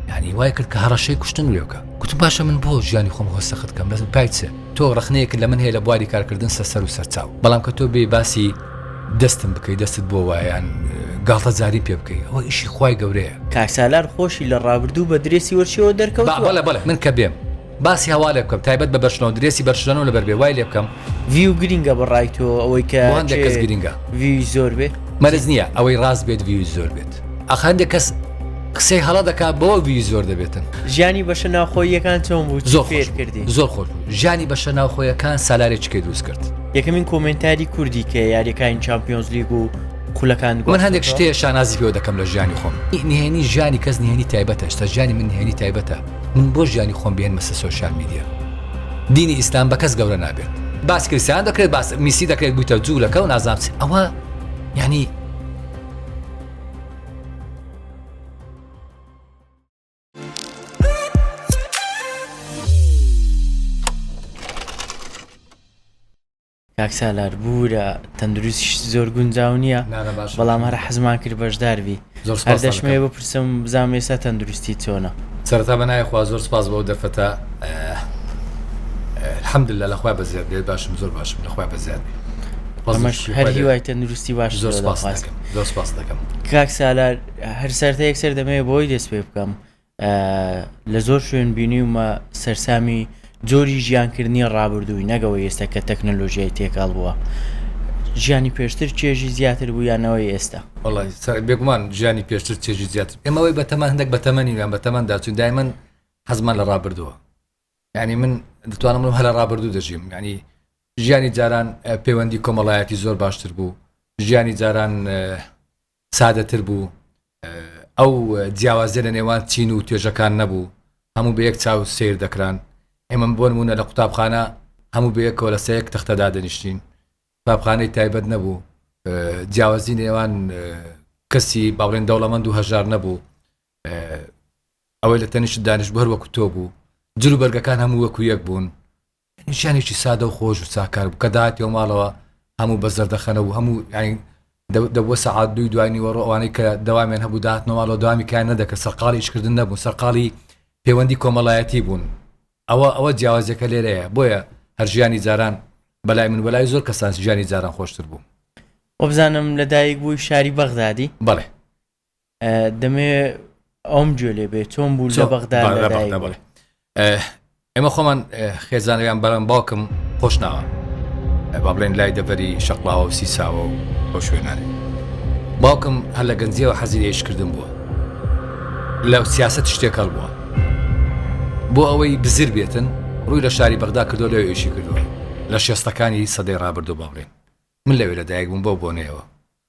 یانی وای کرد کە هەڕەشەی کوشتن وێ بکە گوتم باشە من بۆ ژیانی خۆم هۆ سەخت کەم لەزم پای چێ تۆ ڕخنەیەکت لە من هەیە لە بواری کارکردن سەسەر و سەرچاو بەڵام کە تۆ بێ باسی دەستم بکەی دەستت بۆ وایان گاڵتە جاری پێ بکەی ئەوە ئیشی خوای گەورەیە کاک سالار خۆشی لە ڕابردوو بە درێسی وەرچیەوە دەرکەوتووە. بەڵێ بەڵێ من کە بێم. باسی هەوا لێ بکەم تایبەت بە بەرشلۆن درێسی بەرشلۆنەم لەبەر بێ وای لێ بکەم. ڤیو گرینگە بە ڕای تۆ ئەوەی کە بۆ هەندێک کەس گرینگە ڤیوی زۆر بێ مەرز نییە ئەوەی ڕاست بێت ڤیوی زۆر بێت ئاخ هەندێک کەس قسەی هەڵە دەکات بەوە ڤیوی زۆر دەبێتن ژیانی بەشە ناوخۆییەکان چۆن بوو زۆر فێر کردی زۆر خۆش بوو ژیانی بەشە ناوخۆیەکان سالارێک چکەی دروست کرد یەکەمین کۆمنتاری کوردی کە یاریەکانی چمپیۆنز لیگ و خولەکان گوڵ هەندێک شتێ شانازی پێوە دەکەم لە ژیانی خۆم نهێنی ژیانی کەس نهێنی تایبەتە شتە ژیانی من نهێنی تایبەتە من بۆ ژیانی خۆم بێنمە سەر سۆشیال میدیا دینی ئیسلام بە کەس گەورە نابێت باس کریسیان دەکرێت باس میسی دەکرێت بوویتە جوولەکە و نازام ئەوە یعنی کاک سالار بورە تەندروستیشت زۆر گونجاو نیە نانە باشە بەڵام هەر حەزمان کرد بەشدار بی زۆر هەر سوپاستان دەشمەوێ دەکەم بپرسم بزانم ئێستا تەندروستیت چۆنە؟ سەرەتا بە ناوی خوا زۆر سوپاس بۆ ئەو دەرفەتە الحمدللە لە خوای بەزیاد بێت باشم زۆر باشم لە خوای بەزیاد بێت ڕەزی و ئەمەش شوکری هەر خوای لێ هیوای تەندروستی باشت زۆر لێ سوپاست دەخوازم دەکەم زۆر سوپاست دەکەم. کاک سالار هەر سەرەتا یەکسەر دەمەوێ بەوەی دەست پێ بکەم لە زۆر شوێن بینیومە سەرسامی جۆری ژیانکردنی ڕابردووی نەگەوە ئێستا کە تەکنەلۆژیای تێکاڵ بووە ژیانی پێشتر چێژی زیاتر بوو یانەوەی ئێستا بێگومان ژیانی پێشتر چێژی زیاتر ئێمەوەی بە تەمان هەندێک بە تەمەنی ویان بە تەمەندا چون دایمن حەزمان لە ڕابردووە ینی من دەتوانم من هەلە ڕابردوو دەژیم ینی ژیانی جاران پەیوەندی کۆمەڵایەتی زۆر باشتر بوو ژیانی جاران سادەتر بوو ئەو جیاوازیە لە نێوان چین و توێژەکان نەبوو هەموو بە یەک چاو سیر دەکران ئێمە بۆن مونە لە قوتابخانە هەموو بەیەکەوە لە سەیەک تەختەدا دەنیشتین قوتابخانەی تایبەت نەبوو جیاوازی نێوان کەسی باڵێن دەوڵەمەند و هەژار نەبوو ئەوەی لە تەنیشت دانیش بەر وەکو تۆ بوو جلو بەرگەکان هەموو وەکو یەک بوون ژیانێکی سادە و خۆش و ساکار بوو، کە دەهاتیەوە ماڵەوە هەموو بە زەردەخەنە بوو، هەموو یانی دەبووە سەعات دووی دوای نیوەڕۆ، ئەوانەی کە دەوامیان هەبوو دەهاتنەوە ماڵەوە دەوامی کایان نەدەکرد، سەرقاڵی ئیشکردن نەبوون، سەرقاڵی پێوەندی کۆمەڵایەتی بوون، ئەوە ئەوە جیاوازیەکە لێرەیە، بۆیە هەر ژیانی جاران بەلای من و بەلای زۆر کەسان ژیانی جاران خۆشتر بوو. وەبزانم لەدایک بووی شاری بەغدادی؟ بەڵێ. دەمێ ئەوم گوێ لێ بێ چۆن بوو لە بەغدا ئێمە خۆمان خێزانەوەیان بەرەم باوکم خۆشناوە با بڵێن لای دەبەری شەقلاوە و سیساوە و بۆ شوێنانێ باوکم هەر لە گەنجیەوە حەزیرێش کردن بووە لە سیاست شتێک هەڵ بووە بۆ ئەوەی بزر بێتن ڕووی لە شاری بەغدا کردو لەوێ ئێشی کردووە لە شێستەکانی سەدەی ڕابردوو باڵێن من لەوێ لە دایک بووم بۆ بۆنەیەوە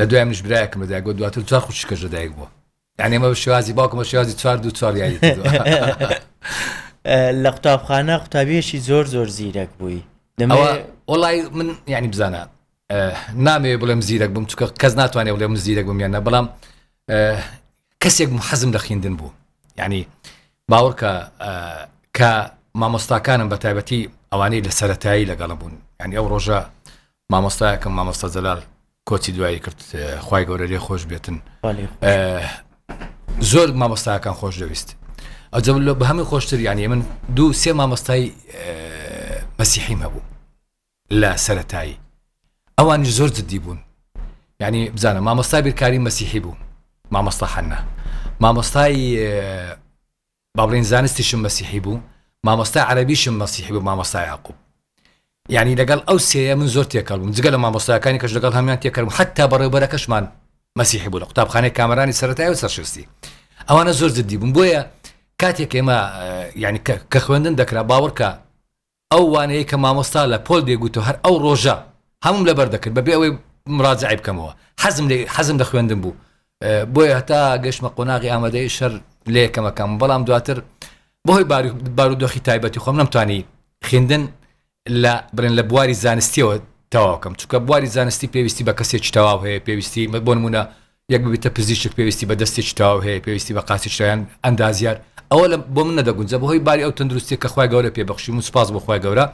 لە دوای منیش برایەکم لە دایک بووە دواتر چوار خوشکەش لە دایک بووە یعنی ئەمە بە شێوازی باوکم بە شێوازی چوار دوو چوار یاری کردووە. لە قوتابخانە قوتابیەکی زۆر زۆر زیرەک بووی ئەوە وڵی من یعنی بزانە نامەوێ بڵێم زیرەک بم چکە کەس ناتوانێت بڵێ من زیرەک بم یانە بەڵام کەسێک حەزم لە خیندن بوو یعنی باوەڕکە کە مامۆستاکانم بە تایبەتی ئەوانەی لە سەتایی لەگەڵم بوون ینی ئەو ڕۆژە مامۆستایەکەم مامۆستا جەلال کۆچی دوایی کرد خی گەورە لێ خۆش بێتن زۆر مامۆستاکان خۆش دەویست ئەجە لە بە هەمووی خۆشتر یانی من دوو سێ مامۆستای مەسیحیم هەبوو لە سەتایی ئەوانی زۆر جددی بوون ینی بزانە مامۆستا بیرکاری مەسیحی بوو مامۆستا حەنە مامۆستای با بڵێین زانستیشم مەسیحی بوو مامۆستای عەرەبیشم مەسیحی بوو مامۆستا یاقوب یانی لەگەڵ ئەو سێیە من زۆر تێکەڵ بووم جگە لە مامۆستایەکانی کەش لەگەڵ هەمیان تێکەڵ بووم حەتا بەڕێوبەرەکەشمان مەسیحی بوو لە قوتابخانەی کامەرانی سەرەتای و سەرشستی ئەوانە زۆر جددی بوون بۆیە کاتێک ئێمە یانی کە خوێندن دەکرا باوەڕکە ئەو وانەیەی کە مامۆستا لە پۆل دەیگوتەوە هەر ئەو ڕۆژە هەمووم لەبەر دەکرد بەبێ ئەوەی مراجەعەی بکەمەوە، حەزم لێی حەزم لە خوێندن بوو بۆیە هەتا گەشتمە قۆناغی ئامادەیی شەر لە یەکەمەکانبووم بەڵام دواتر بەهۆی بارودۆخی تایبەتی خۆم نەمتوانی خیندن لە بڵێن لە بواری زانستیەوە تەواوکەم چونکە بواری زانستی پێویستی بە کەسێکی تەواو هەیە پێویستی بۆ نمونە یەک ببیتە پزیشک پێویستی بە دەستێکی تەواو هەیە پێویستی بە قاچێکی تەواو یان ئەندازیار ئەوە لە بۆ من نەدەگونجێ بەهۆی باری ئەو تەندروستییە کە خوای گەورە پێ بەخشیم و سوپاس بۆ خوای گەورە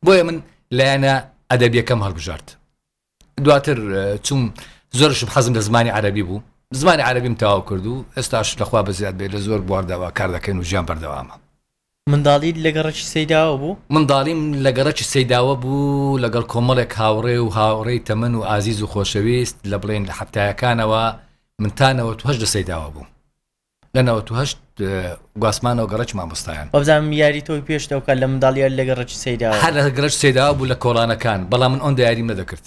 بۆیە من لایەنە ئەدەبیەکەم هەڵبژارد دواتر چوم زۆرشم حەزم لە زمانی عەربی بوو زمانی عەربیم تەواو کرد و ئێستاش لەخوا بەزیاد بێت لە زۆر بواردەوە کار دەکەین و ژیان بەردەوامە منداڵیت لە گەڕەکی سەیداوە بوو؟ منداڵیم لە گەڕەکی سەیداوە بوو، لەگەڵ کۆمەڵێک هاوڕێ و هاوڕێی تەمەن و ئازیز و خۆشەویست، لە بڵێین لە حەفتایەکانەوە، من تا نەوەت و هەشت لە سەیداوە بووم. لە نەوەت و هەشت گواستمانەوە گەڕەکی مامۆستایان. وابزانم یاری تۆی پێش لەو کات لە منداڵیت لە گەڕەکی سەیداوە بوو؟ هەر لە گەڕەکی سەیداوە بوو لە کۆڵانەکان، بەڵام من ئەوەندە یاریم نەدەکرد.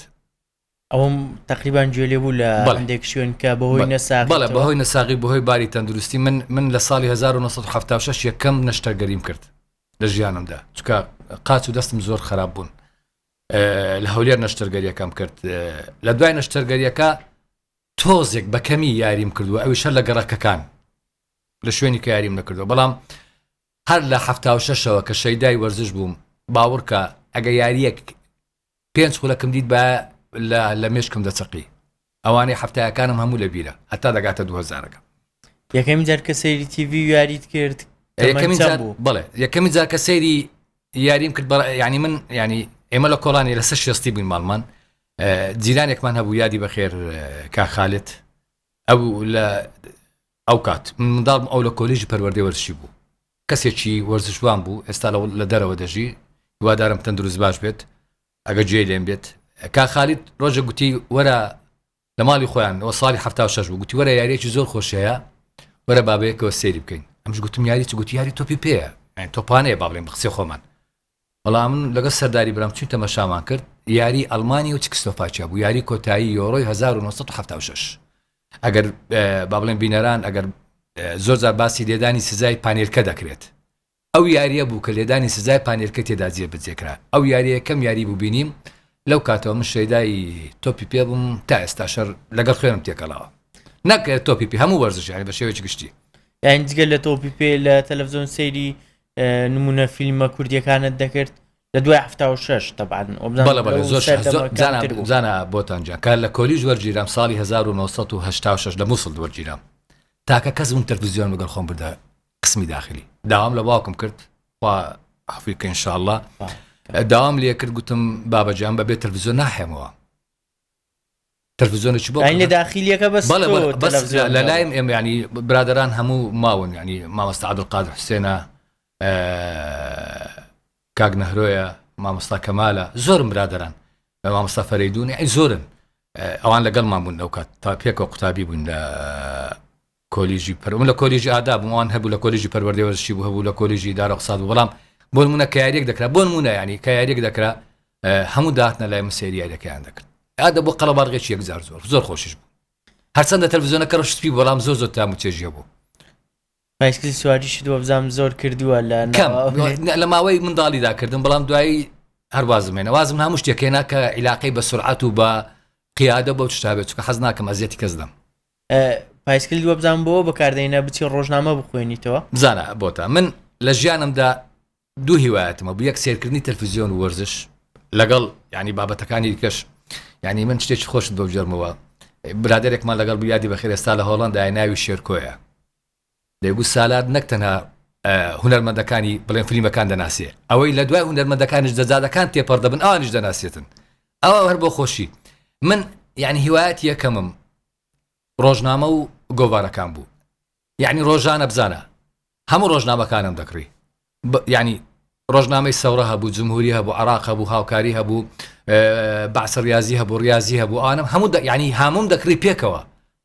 ئەوم تەقریبان گوێ لێ بوو لە هەندێک شوێن کە بەهۆی نەساغ بەڵێ بەهۆی نەساغی بەهۆی باری تەندروستی من من لە ساڵی 1970 یەکەم نەشتەرگەریم کرد لە ژیانمدا چکە قاچ و دەستم زۆر خراپ بوون لە هەولێر نەشتەرگەریەکەم کرد لە دوای نەشتەرگەریەکە تۆزێک بەکەمی یاریم کردووە ئەوی شەر لە گەڕەکەکان لە شوێنی کە یاریم نەکردو بەڵام هەر لە هەفتاوشەشەوە کە شەیدای وەرزش بووم باوڕکە ئەگە یاریەک پێنج خولەکم دیت با لە لە مێشکم دەچەقی ئەوانەی حەفتایەکانم هەموو لە بیرە هەتا دەگاتە دوو هەزارەکە. یەکەمین جار کە سەیری تیڤی و یاریت کرد تەمەن چەند بوو؟ بەڵێ یەکەمین جار کە سەیری یاریم کرد بەڵێ یانی من یانی ئێمە لە کۆڵانی لە سەر شێستی بووین ماڵمان جیرانێکمان هەبوو یادی بەخێر کاک خالد ئەو لە ئەو کات من منداڵ بووم ئەو لە کۆلیژی پەروەردەی وەرزشی بوو کەسێکی وەرزشوان بوو ئێستا لە لە دەرەوە دەژی هیوادارم تەندروست باش بێت ئەگە گوێی لێم بێت کاک خالید ڕۆژە گوتی وەرە لە ماڵی خۆیان ئەوە ساڵی هەفتا و شەش بوو گوتی وەرە یاریەکی زۆر خۆش هەیە وەرە بابەیەکەوە سەیری بکەین ئەمش گوتم یاری چ گوتی یاری تۆپی پێیە یان تۆپانەیە با بڵێم بە قسەی خۆمان بەڵام من لەگەڵ سەرداری برام چووین تەمەشامان کرد، یاریی ئەڵمانیا و چکسلۆفاکیا بوو، یاریی کۆتایی یۆرۆی هەزار و نۆ سەد و حەفتا و شەش. ئەگەر با بڵێم بینەران ئەگەر زۆر جار باسی لێدانی سزای پانێلکە دەکرێت، ئەو یارییە بوو کە لێدانی سزای پانێلکە تێدا جێبەجێ کرا، ئەو یارییە یەکەم یاری بوو بینیم، لەو کاتەوە من شەیدای تۆپی پێ بووم، تا ئێستاش هەر لەگەڵ خوێنم تێکەڵاوە، نەک تۆپی پێ، هەموو وەرزش یانی بە شێوەیەکی گشتی. یانی جگە لە تۆپی پێ، لە تەلەفزیۆن سەیری نمونە فیلمە کوردیەکانت دەکرد لە دوای هەفتا و شش تەبان زانە بۆتانجان کار لە کۆلیژ وەرگیرام ساڵی 1986 لە مووسڵ وەرگیرام تاکە کەس بووم تەلفزیۆن بگەڵ خۆم بردە قسمی داخلی داوام لە باوکم کرد خوا عفوی کە انشاءله داوام لێ کرد گوتم بابەجان بەبێ تەلفزیۆن ناحێمەوە تەلفزیۆنێکی بۆ یعنی لە داخیلیەکە بەس بەڵێ تۆ بەڵێ بەس تەلەفزیۆن لە لایم ئێمە یعنی برادەران هەموو ماون یعنی مامۆستا عەبدولقادر حوسێنە کاک نەهرۆیە مامۆستا کەمالە زۆرم برادەران بە مامۆستا فەرەیدونی ئەی زۆرن ئەوان لەگەڵمان بوون لەو کات تا پێکەوە قوتابی بووین لە کۆلیژی پەر من لە کۆلیژی ئادا بووم ئەوان هەبوو لە کۆلیژی پەروەردەی وەرزشی بوو هەبوو لە کۆلیژی ئیدارە ئیقتساد بوو بەڵام بۆ نموونە کە یاریەک دەکرا بۆ نموونە یانی کە یاریەک دەکرا هەموو داهاتنە لای من سەیری یاریەکەیان دەکرد ئادە بۆ قەڵەبارغێکی یەکجار زۆر زۆر خۆشیش بوو هەرچەندە تەلڤزیۆنەکە ڕەش سپی بەڵام زۆر زۆر تام و چێژیە بوو بایسکل سواریشت وە بزانم زۆر کردووە لە کەم لە ماوەی منداڵیدا کردم بەڵام دوایی هەروازم هێنە وازم هەموو شتێکێنا کە عیلاقەی بە سرعات و بە قیادە بەو شتابێت چکە حەز ناکەم ئەزیەتی کەس دەم پایسکل وەبزان بۆ بەکاردەینە بچی ڕۆژنامە بخوێنیتەوە بزانە بۆتە من لە ژیانمدا دوو هیوایەتمە بوو یەک سێرکردنی تەلفزیۆن وەرزش لەگەڵ ینی بابەتەکانی کەش ینی من شتێکی خۆشت بۆ بجەرمەوە برادێکمان لەگەڵ بیادی بەخێرێستا لە هۆڵندای ناوی شێرکۆیە بێگوو سالار نەک تەنها هونەرمەندەکانی بڵێن فلیمەکان دەناسێ، ئەوەی لە دوای هونەرمەندەکانیش دەجادەکان تێپەڕ دەبن ئەوانیش دەناسێتن ئەوە هەر بۆ خۆشی من یانی هیوایەتی یەکەمم ڕۆژنامە و گۆڤارەکان بوو یانی ڕۆژانە بزانە هەموو ڕۆژنامەکانم دەکڕی یانی ڕۆژنامەی سەورە هەبوو جمهوری هەبوو عراق هەبوو هاوکاری هەبوو بەعسە ریازی هەبوو ریازی هەبوو ئانم هەموو یانی هاموم دەکڕی پێکەوە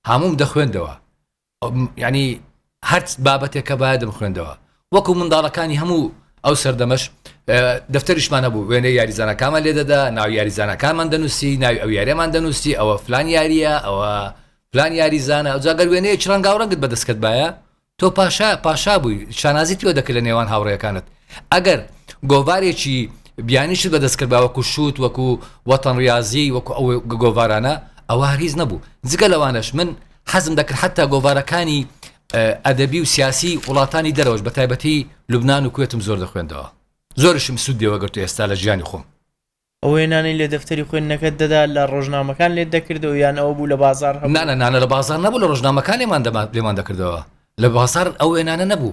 هاموم دەخوێندەوە یعنی هەر بابەتێک کە باە دەمخوێندەوە وەکو منداڵەکانی هەموو ئەو سەردەمەش دەفتەریشمان هەبوو وێنە یاریزانەکانمان لێ دەدا ناو یاریزانەکانمان دەنووسی ناوی ئەو یاریەمان دەنووسی ئەوە فلان یاریە ئەوە فلان یاریزانە ئەو جاگەر وێنەیە چرانگا و ڕەنگت بەدەستکەت باە تۆ پاشا پاشا بووی شانازی تۆ دەکرد لە نێوان هاوڕێەکانت ئەگەر گۆڤارێکی بیانیشت بەدەستکرد با وەکو شووت وەکو وەتەن ریاضی وەکو ئەو گۆڤارانە ئەوە هەرگیز نەبوو جگە لەوانش من حەزم دەکرد حتا گۆڤارەکانی ئەدەبی و سیاسی وڵاتانی دەرەوەش بە تایبەتی لوبناان و کوێتم زۆر دەخوێندەوە زۆرشم سوود دێوەگەرت و ئێستا لە ژیانی خۆم ئەو وێنانەی لە دەفتەری خوێندنەکەت دەدا لە ڕۆژنامەکان لێت دەکردەوە یان ئەوە بوو لە بازار هەنانە نانە لە بازار نەبوو لە ڕۆژنامەکان لێمان دەمان لێمان دەکردەوە لە بازار ئەو وێنانە نەبوو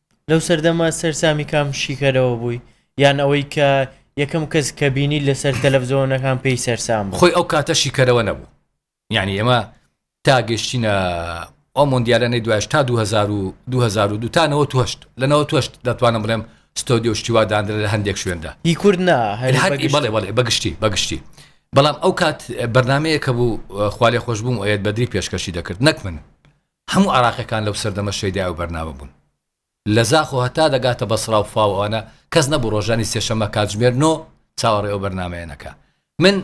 لەو سەردەمە سەرسامی کام شیکەرەوە بووی؟ یان ئەوەی کە یەکەم کەس کە بینیت لەسەر تەلەفزۆنەکان پێی سەرسام بوو؟ خۆی ئەو کاتە شیکەرەوە نەبوو یانی ئێمە تا گەیشتینە ئەو مۆندیالانەی دوایش تا دوو هەزار و دوو هەزار و دوو تا نەوەت و هەشت لە نەوەت و هەشت دەتوانم بڵێم ستۆدیۆ و شتی وا داندرا لە هەندێک شوێندا. هی کورد نا هەر هەر ئی بەگشتی. بەڵێ بەڵێ بەگشتی بەگشتی بەڵام ئەو کات بەرنامەیەک هەبوو خوا لێخۆشبوو موئەیەد بەدری پێشکەشی دەکرد نەک من هەموو عێراقیەکان لەو سەردەمە شەیدای ئەو بەرنامە بوون لە زاخ و هەتا دەگاتە بەسڕا و فاو ئەوانە کەس نەبوو ڕۆژانی سێشەمە کاتژمێر نۆ چاوەڕێی ئەو بەرنامەیە نەکا من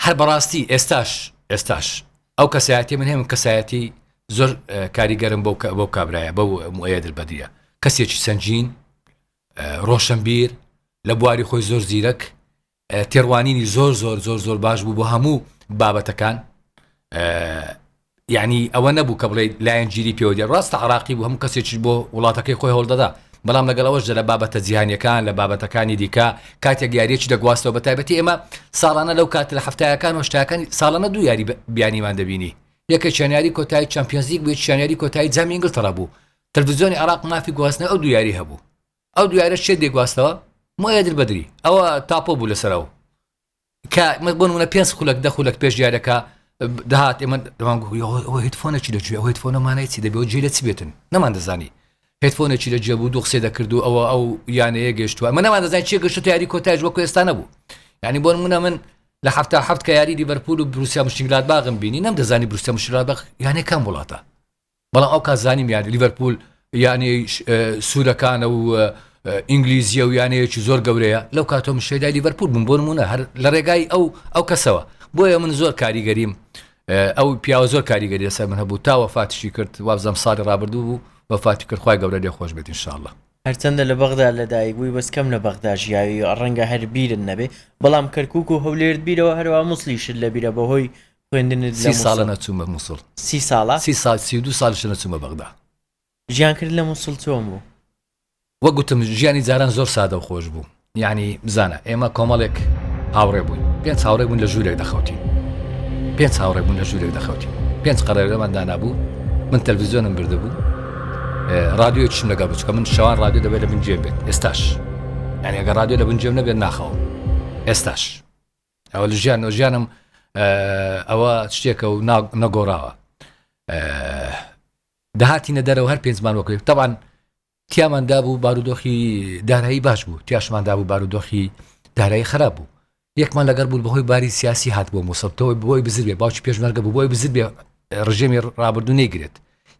هەر بەڕاستی ئێستاش ئێستاش ئەو کەسایەتی من هەیە من کەسایەتی زۆر کاریگەرم بەو بەو کابرایە بەو موەیەدر بەدیە کەسێکی سنجین ڕۆشنبیر لە بواری خۆی زۆر زیرەک تێڕوانینی زۆر زۆر زۆر زۆر باش بوو بۆ هەموو بابەتەکان یعنی ئەوە نەبوو کە بڵێ لایەن گیری پێوەدی ڕاستە عراقی بوو هەموو کەسێکی بۆ وڵاتەکەی خۆی هەوڵدەدا بەڵام لەگەڵەوەش لە بابەتە جیهانیەکان لە بابەتەکانی دیکە کاتێک یاریەکی دەگواستەوە بە تایبەتی ئێمە ساڵانە لەو کات لە هەفتایەکان و شتاکانی ساڵانە دوو یاری بیانیمان دەبینی یەکە چێناری کۆتایی چمپیۆنزیک بێت چێناری کۆتایی جامی ئینگلتەڕە بوو تەلویزیۆنی عراق مافی گواستنە ئەو دوو یاری هەبوو ئەو دوایرە شێت دێگواستەوە مۆیە در بەدری ئەوە تاپۆ بوو لەسەر ئەو کە بۆ منە پێنج خولک دە خولک پێش دیارەکە دەهات ئێمە هیتفۆنێکی لەگوێ ئەو هیتفۆنەمانەی چی دەبێت جێ لە چ بێتن نەمان دەزانی هیتفۆنێکی لە جێبوو دوو قسێ دەکرد و ئەوە ئەو یانەیە گەشتووە من نەمان دەزان چێ گەشت یاری کۆتایش وەکو ئێستا نەبوو ینی بۆن منە من لە هەفتا هەفت کە یاری دیبەرپول و بروسیا مشنگلات باغم بینی نەم دەزانی بروسیا مشرا بەخ یانەکەم وڵاتە بەڵام ئەو کات زانیم یانی لیڤەرپول یانێ سوورەکانە و ئینگلیزیە و یانەیەکی زۆر گەورەیە لەو کاتۆ من شێدای لیڤەرپول بووم بۆ نمونە هەر لە ڕێگای ئەو ئەو کەسەوە بۆیە من زۆر کاریگەریم ئەو پیاوە زۆر کاریگەری لەسەر من هەبوو تا وەفاتشی کرد وابزەم ساڵی ڕابردوو بوو وەفاتی کرد خخوای گەورە لێ خۆش بێت انشاءله هەرچەندە لە بەغدا لەدایک بووی بەس کەم لە بەغدا ژیاوی ڕەنگە هەر بیرت نەبێ بەڵام کەرکک و هەولێرت بیرەوە هەروە مووسلیشت لە بیرە بەهۆی خوێندنت سی ساڵە نەچوومە مووسڵ سی ساڵە سی سال سی دو سالش نەچوومە بەغدا ژیان کرد لە مووسڵ چۆن بوو وە گوتم ژیانی جاران زۆر سادە و خۆش بوو یعنی بزانە ئێمە کۆمەڵێک هاوڕێ بووین پێنج هاوڕێ بوون لە ژوورێک دەخەوتین پێنج هاوڕێ بوون لە ژوورێک دەخەوتین پێنج قەرەرەمان دانابوو من تەلویزیۆنم بردبوو رادیۆی چم لەگە بچکە من شوان رادیو دەبێت لە من جێ بێت ئێستاش یعنی ئەگە رادیو لە بنجێم نەبێت ناخەوم ئێستاش ئەوە لە ژیان و ژیانم ئەوە شتێکە و نەگۆڕاوە داهاتینە دەرەوە هەر پێنجمان وەکەوێت تەوان تیامان دابوو بارودۆخی دارایی باش بوو تیاشمان دابوو بارودۆخی دارایی خراپ بوو یەکمان لەگەر بوو بەهۆی باری سیاسی هات بۆ مووسەتەوەی بۆی بزرێ باوکی پێشمەرگە بۆی بزرێ ڕژێمی ڕابردوو نەیگرێت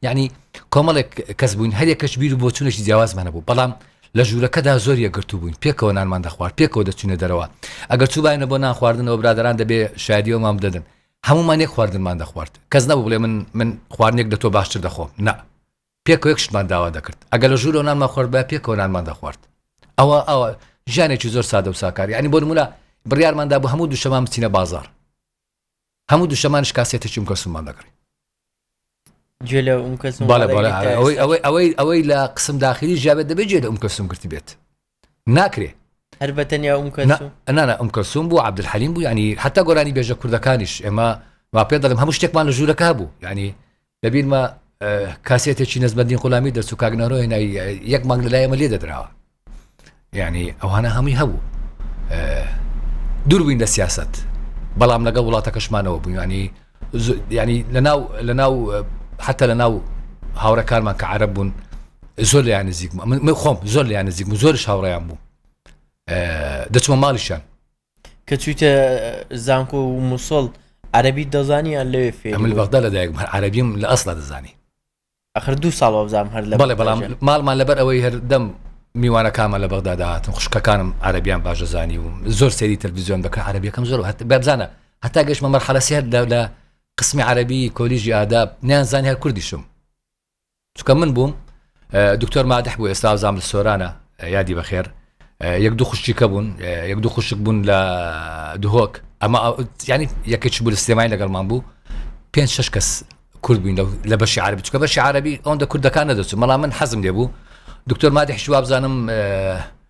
یەعنی کۆمەڵێک کەس بووین هەر یەکەش بیر و بۆچوونێکی جیاوازمان هەبوو، بەڵام لە ژوورەکەدا زۆر یەکگرتوو بووین، پێکەوە نانمان دەخوارد، پێکەوە دەچووینە دەرەوە، ئەگەر چووبایەنە بۆ نان خواردنەوە برادەران دەبێ شایەدی ئەوەمان بدەدن، هەموومان یەک خواردنمان دەخوارد، کەس نەبوو بڵێ من من خواردنێک لە تۆ باشتر دەخۆم، نا پێکەوە یەک شتمان داوا دەکرد، ئەگەر لە ژوورەوە نانمان خواردبایە پێکەوە نانمان دەخوارد، ئەوە ئەوە ژیانێکی زۆر سادە و ساکار، یەعنی بۆ نموونە بڕیارمان دابوو هەموو دووشەمان بچینە بازاڕ، هەموو دوشەمانش کاسێتێکی ئوم کەلسوممان دەکڕی. گوێ لە ئوم کەلسوم بەڵێ بەڵێ هەر ئەگریت ئەوەی ئەوەی ئەوەی ئەوەی لە قسم داخیری ژیابێت دەبێت گوێ لە ئوم کەلسوم گرتبێت ناکرێ هەر بە تەنیا ئوم نا کەلسوم نا نا ئوم کەلسوم بوو عەبدولحەلیم بوو یعنی حەتا گۆرانی بێژە کوردەکانیش ئێمە وا پێ دەڵێم هەموو شتێکمان لە ژوورەکە هەبوو یعنی لە بیرمە کاسێتێکی نزمەدین قولامی دەرچوو کاگنەرۆ هێنای یەک مانگ لەلای ئەمە لێ دەدراوە یعنی ئەوانە هەمووی هەبوو دووربووین لە سیاست بەڵام لەگەڵ وڵاتەکەشمانەوە بوویانی ینی لەناو لەناو حتا لە ناو هاوڕەکانمان کە عرب بوون زۆر لیان نزیک من خۆم زۆر لیان نزیک زۆرش هاوڕیان بوو دەچمە ماڵیشان کە چویتە زانکۆ و موسڵ عەرەبی دەزانی یان لەوێ فێری ئەمل بوو؟ بەغدا لەدایک بووم، هەر عەرەبیم لە ئەسڵا دەزانی ئەخر دوو ساڵ وابزانم هەر لە بەڵێ بەغدا بەڵام ژیان. ماڵمان لەبەر ئەوەی هەردەم میوانەکانمان لە بەغدا دەهاتن خوشکەکانم عەرەبیان باش دەزانی و زۆر سەیری تەلەڤیزیۆن دەکرد عەرەبیەکەم زۆر هەت بابزانە هەتا گەشتمە مەرحەلە سێ لە لە قسمی عەرەبی کۆلیژی ئاداب نیانزانی هەر کوردیشم چونکە من بووم دکتۆر مادح بوو ئێستا زام لە سۆرانە یادی بەخێر یەک دوو خوشتیکە بوون یەک دوو خوشک بوون لە دهۆک ئەمە ینی یەکەچ بوو لە سلێمای لەگەڵمان بوو پێ شش کەس کورد بووین لە بەشی عربی چکە بەشی عربی ئەوەندە کوردەکان نەدەچوو مەڵام من حەزم لێ بوو دکتۆر مادح شوابزانم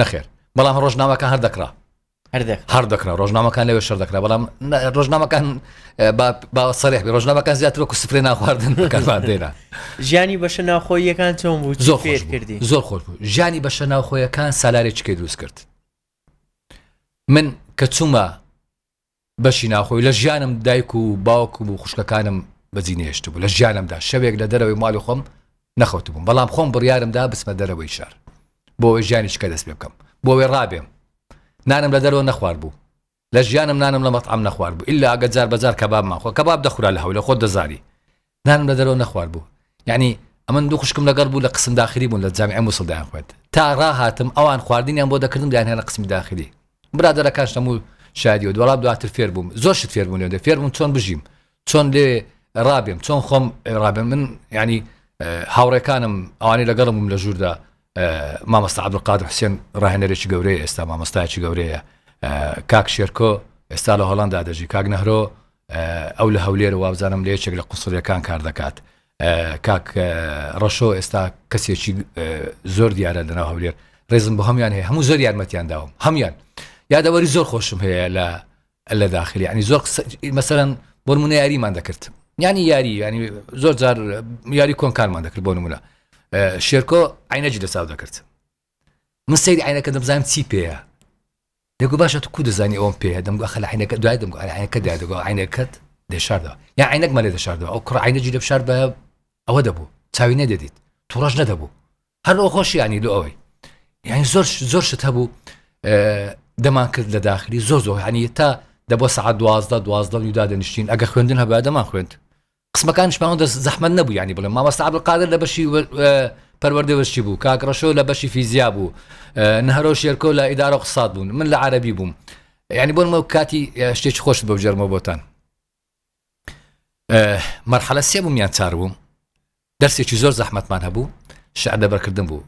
نەخێر بەڵام ڕۆژنامەکان هەر دەکڕا هەر دەکرا ڕۆژنامەکان لەوێ شەر دەکرا بەڵام ڕۆژنامەکان با سەرێح ڕۆژنامەکان زیاتر وەکو سفرێ ناخواردن دێرا ژیانی بەشە ناوخۆیەکان چۆن بوو زۆر خێر کردی زۆر خۆش بوو ژیانی بەشە ناوخۆیەکان سالارێکیکە دروست کرد من کە چوومە بەشی ناوخۆی لە ژیانم دایک و باوکم و خوشکەکانم بەجی نەهێشتبوو لە ژیانمدا شەوێک لە دەرەوەی ماڵی خۆم نەخەوتبووم بەڵام خۆم بڕیارم دا بچمە دەرەوەی شار بۆ ئەوەی ژیانی شکە دەست پێ بکەم بۆ ئەوەی ڕابێم نانم لە دەرەوە نەخوارد بوو لە ژیانم نانم لە مەتعەم نەخوارد بوو ئیلا ئەگەر جار بەجار کەبابمان خۆ کەباب دەخورا لە هەولێر خۆت دەزانی نانم لە دەرەوە نەخوارد بوو یعنی ئەمن دوو خوشکم لەگەڵ بوو لە قسم داخلی بوون لە جامی مووسڵ دایان خوێت تا ڕاهاتم ئەوان خواردنیان بۆ دەکردم دایانە لە قسمی داخلی برادەرەکان شتەم و شادی و دوڵام دواتر فێر بووم زۆر شت فێر بوون لێ فێر بوون چۆن بژیم چۆن لێ ڕابێم چۆن خۆم ڕابێن من ینی هاوڕێکانم ئەوانی لەگەڵم بووم لە ژووردا مامۆستا عبدقادر حسێن ڕاهێنەرێکی گەورەیە ئێستا مامۆستایکی گەورەیە کاک شێرکۆ ئێستا لە هۆڵندا دەژی کاک نەهرۆ ئەو لە هەولێرە وابزانم لە یەکێک لە قوسڵیەکان کار دەکات کاک ڕەشۆ ئێستا کەسێکی زۆر دیارە لەناو هەولێر ڕێزم بە هەمیان هەیە هەموو زۆر یارمەتیان داوم هەمان یادەوەری زۆر خۆشم هەیە لە لە داخلی ینی زۆر مەسەرەن بۆ منە یاریمان دەکرد ینی یاری ینی زۆر جار یاری کۆنکارمان دەکرد بۆ نمونە شێرکۆ عینەجی لە چاو دەکرد من سەیری عینەکە دەبزانم چی پێەیە دەگو باشە تو کو دەزانی ئەوم پێ دەم گوخە لە عینەکە دوای دەم عینەکە دا دەگو عینەکەت دەشاردەوە یا عینەکمە لێ دەشاردەوە ئەو کوڕ عینە جی دەشار بە ئەوە دەبوو چاوی نەدەدیت توڕەش نەدەبوو هەر ئەو خۆشیانی لۆ ئەوەی یعنی زۆر زۆر شت هەبوو دەمان کرد لە داخلی زۆر زۆر هەنی تا دەبۆ سعات دوازدە دوازدە و دادەنیشتین ئەگە خوێندن هەبا دەمان خوێند قسمەکانیش پێم ئەوەندە زەحمەت نەبوو یانی بڵێم مامۆستا عەبدولقادر لە بەشی پەروەردە وەرچی بوو کاک ڕەشۆ لە بەشی فیزیا بوو نهرۆ شێرکۆ لە ئیدارە قسات بوون من لە عەربی بووم یعنی بۆن مە کاتی شتێکی خۆش بە جەرمە بۆتان مەرحەلە سێ بووم یان چار بووم دەرسێکی زۆر زەحمەتمان هەبوو شعر دەبەرکردن بوو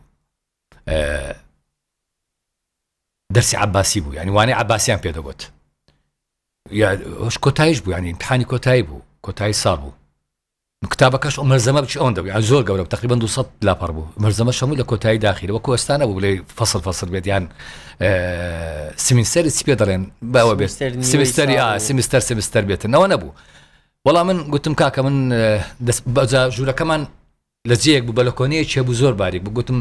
دەرسی عباسی بوو ینی وانەی عباسیان پێدەگوت یا ئەوش کۆتایش بوو یانی امتحانی کۆتایی بوو کۆتایی ساڵ بوو کتابەکەش ئەو مەرزەمە بچ ئەوەن دەبوو یان زۆر گەورە تقریبا 200 لاپەڕ بوو مەرزەمە شەموو لە کۆتایی داخیرەوە کۆستانە بوو بڵێ فەصل فەصل بێت یان سمینسەر چی پێ دەڵێن باوە بێت سمستەری ئا سمستەر سمستەر بێتنەوە نەبوو وەڵام من گوتم کاکە من بەجا ژوورەکەمان لە جەیەک بوو بە لە کۆنەیە چێ بوو زۆر باریک بگوتم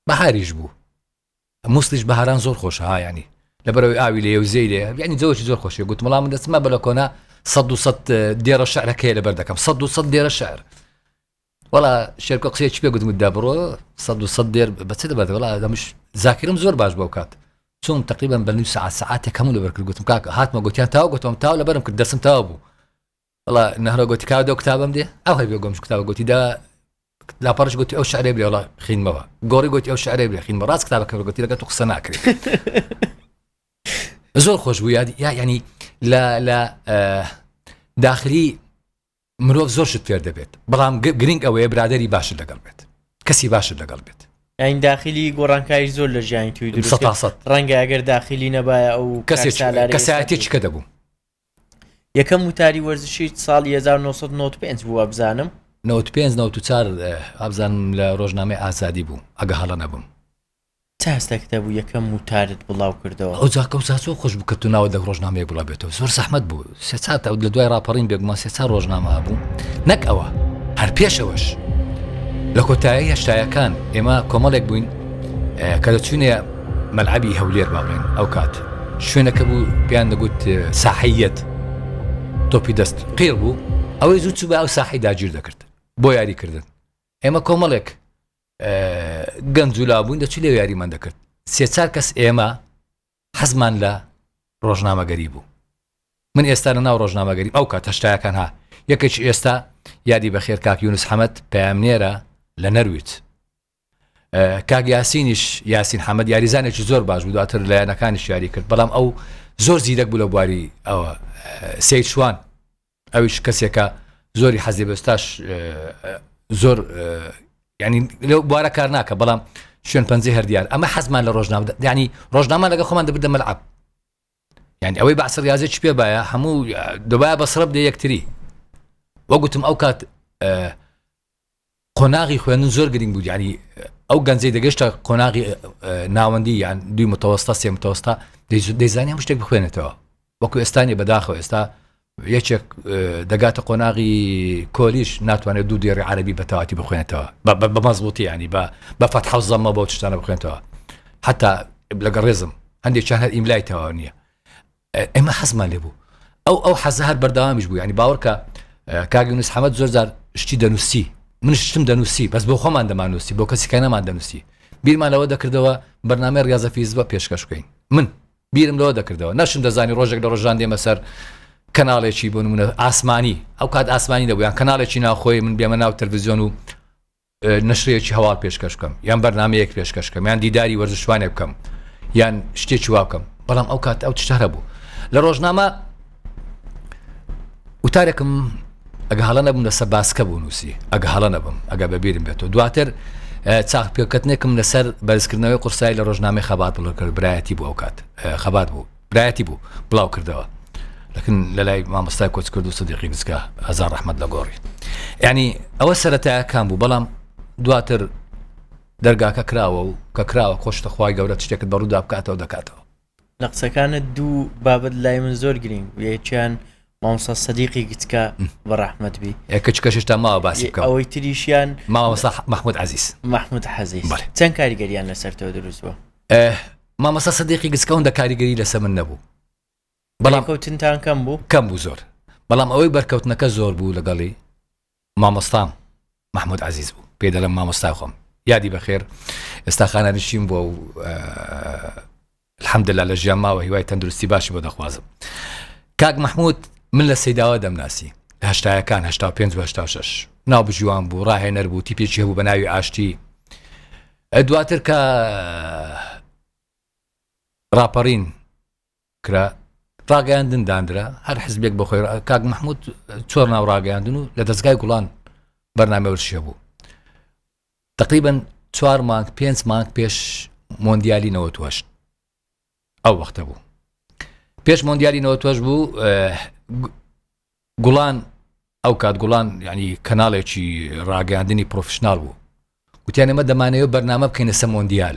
بەهاریش بوو موسڵیش بەهاران زۆر خۆشە ها یانی لەبەرەوەی ئاوی لێ و زێ لێ یانی جەوەی زۆر خۆشی گوت وڵام من دەچمە بە لە کۆنا سە و سە دێرە شعرەکەی لەبەر دەکەم سە و سە دێرە شعر وڵا شێرکە قسێ چ پێ گوتم دا بڕۆ سە و سە دێر بەچ دەبەر وڵا دەمش زاکرم زۆر باش بەو کات چون تقریبا بە نووس ساعت ساعتێک هەموو لەبەر کرد گوتم کاک هاتمە گوتیان تاو گوتم تاو لەبەرم کرد دەسم تاو بوو وەڵا نەهرۆ گۆتی کاوە دەو کتابم دێ ئەو هەبێ گۆمش کتابە گۆتی دا لاپەڕش گوتی ئەو شعرێ برێ وڵا خینمەوە گۆڕی گوتی ئەو شعرێ برێ خینمە ڕاست کتابە کە گوتی لەگە تو قسە ناکرێت زۆر خۆش بوو یاد یا ینی لە لە داخلی مرۆڤ زۆر شت فێر دەبێت بەڵام گرنگ ئەوەیە برادری باشت لەگەڵ بێت کەسی باشت لەگەڵ بێت ئەین داخلی گۆڕانکاری زۆر لە ژیانی توی ڕەنگە ئەگەر داخلی نەبایە ئەو کەسێک کەسایەتێککە دەبوو یەکەم وتاری وەرزشیت ساڵی هەزار و نۆ سەد و نەوەد و پێنج بوو وابزانم؟ نەوەد و پێنج نەوەد و چوار وابزانم لە ڕۆژنامەی ئازادی بوو ئەگە هەڵە نەبم. چ هەستێکت هەبوو یەکەم وتارت بڵاو کردەوە؟ ئەو جاکە و جا زۆر خۆش بوو کە تو ناوت لە ڕۆژنامەیەک بڵاو بێتەوە زۆر زەحمەت بوو سێ چار تا لە دوای ڕاپەڕین بێگومان سێ چار ڕۆژنامە هەبوو نەک ئەوە هەر پێشەوەش لە کۆتایی هەشتایەکان ئێمە کۆمەڵێک بووین کە دەچوینێ مەلعەبی هەولێر با بڵێین ئەو کات شوێنەکە بوو پێیان دەگوت ساحەیەت تۆپی دەست قێڵ بوو ئەوەی زوو چوو بە ئەو ساحی داگیر دەکرد بۆ یاریکردن ئێمە کۆمەڵێک گەنج و لابوون دەچی لێ یاریمان دەکرد سێ چار کەس ئێمە حەزمان لە ڕۆژنامەگەری بوو من ئێستا لە ناو ڕۆژنامەگەری ئەو کات هەشتایەکان ها یەکێکی ئێستا یادی بەخێر کاک یونس حەمەد پامنێرە لە نەرویت کاک یاسینیش یاسین حەمەد یاریزانێکی زۆر باش بوو دواتر لایەنەکانی شاری کرد بەڵام ئەو زۆر زیرەک بوو لە بواری ئەوە سیچوان ئەویش کەسێکە زۆری حەزی بەستاش زۆر ینی لە بوارە کار ناکە بەڵام شوێن پەنجی هەردیار ئەمە حەزمان لە ڕۆژنامە ینی ڕۆژنامە لەگە خۆمان دەبدە مەلعب یانی ئەوەی بەعس ریاضی چ پێ باە هەموو دەبایە بەسڕە بدە یەکتری وەگوتم ئەو کات قۆناغی خوێندن زۆر گرنگ بوو ینی ئەو گەنجەی دەگەشتە قۆناغی ناوەندی یان دوی متەوەستا سێ متەوەستا دەیزانانی هەم شتێک بخوێنێتەوە وەکو ئێستانی بەداخەوە ئێستا یەکێک دەگاتە قۆناغی کۆلیژ ناتوانێت دوو دێڕی عەرەبی بە تەواتی بخوێنێتەوە بە مەزبووتی ینی بە بە فەتح و زەممە بەو تشتانە بخوێنێتەوە حتا لەگە ڕێزم هەندێکیان هەر ئیملای تەواو نییە ئێمە حەزمان لێ بوو ئەو ئەو حەزە هەر بەردەوامیش بوو ینی باوەڕکە کاگەنووس حەمەد زۆر زار شتی دەنووسی من شتم دەنووسی بەس بۆ خۆمان دەمانوسی بۆ کەسیکە نەمان دەنووسی بیرمان لەوە دەکردەوە بەرنمەی ڕاضەفیز بە پێشکەش بکەین من بیرم لەوە دەکردەوە نەشم دەزانی ڕۆژێک لە ڕۆژان دێمە سەر کەناڵێکی بۆ نمونە ئاسمانی ئەو کات ئاسمانی دەبوو یان کەناڵێکی ناوخۆی من بێمە ناو تەلویزیۆن و نشرەیەکی هەواڵ پێشکەش بکەم یان بەرنمەیەک پێشکەش بکەم یان دیداری وەرزشوانێک بکەم یان شتێکی واکەم بەڵام ئەو کات ئەو تشتەرە بوو لە ڕۆژنامە وتارێکم ئەگە هەڵە نەبووم لەسەر باسکە بوو نووسی ئەگە هەڵە نەبم ئەگە بەبیرم بێتەوە دواتر چاخ پێکەتنێکم لەسەر بەرزکردنەوەی قورسایی لە ڕۆژنامەی خەبات بڵکرد برایەتی بۆ ئەو کات خەبات بوو برایەتی بوو بڵاو کردەوە لەکن لە لای مامۆستای کۆچ کرد و سدیقی گچکە هزار ڕحمد لە گۆڕی ینی ئەوە سەرەتاکان بوو بەڵام دواتر دەرگاکە کراوە و کە کراوە خۆشتە خخوای گەورە شتێکت بەڕوودا بکاتەوە دەکاتەوە لە قسەکانت دوو بابەت لای من زۆر گرنگ بوو یەکیان مامۆستا سەدیقی گچکە بە ڕەحمەت بی ئێ کچکەش هێشتا ماوە باسی یە- بکەم ئەوەی تریشیان مامۆستا ح- محمود عزیز محمود حەزیز بەڵێ. چەند کاریگەریان لەسەر تۆ دروست بووە ئه، مامۆستا سەدیقی گچکە ئەوەندە کاریگەری لەسە من نەبوو بەڵام بەڵێکەوتنتان کەم بوو کەم بوو زۆر بەڵام ئەوەی بەرکەوتنەکە زۆر بوو لەگەڵی مامۆستام محمود عزیز بوو پێی دەلم مامۆستای خۆم یادی بەخێر ئێستا خانە نشین بووە و الحمدلله لە ژیان ماوە هیوای تەندروستی باشی بۆ دەخوازم کاک محمود من لە سەیداوە دەمناسی لە هەشتایەکان هشتا پێ هشتا شش ناو بژیوان بوو ڕاهێنەر بوو تیپێکی هەبوو بە ناوی ئاشتی دواتر کە ڕاپەڕین کرا ڕاگەیاندن دانرا هەر حزبێک بەخۆی کاک مححمود چۆر ناو ڕاگەیاندن و لە دەستگای گوڵان بەرنامە ورشە بوو تقریبن چوار مانگ پێنج مانگ پێش مۆندیالی نەوە توەشت ئەو وەختە بوو پێش مۆندیالی نەوە توەش بوو گوڵان ئەو کات گوڵان ینی کەناڵێکی ڕاگەاندنی پرۆفشنناڵ بوو گوتیان ئمە دەمانەیە بەرنامە بکەینە سەمۆندیال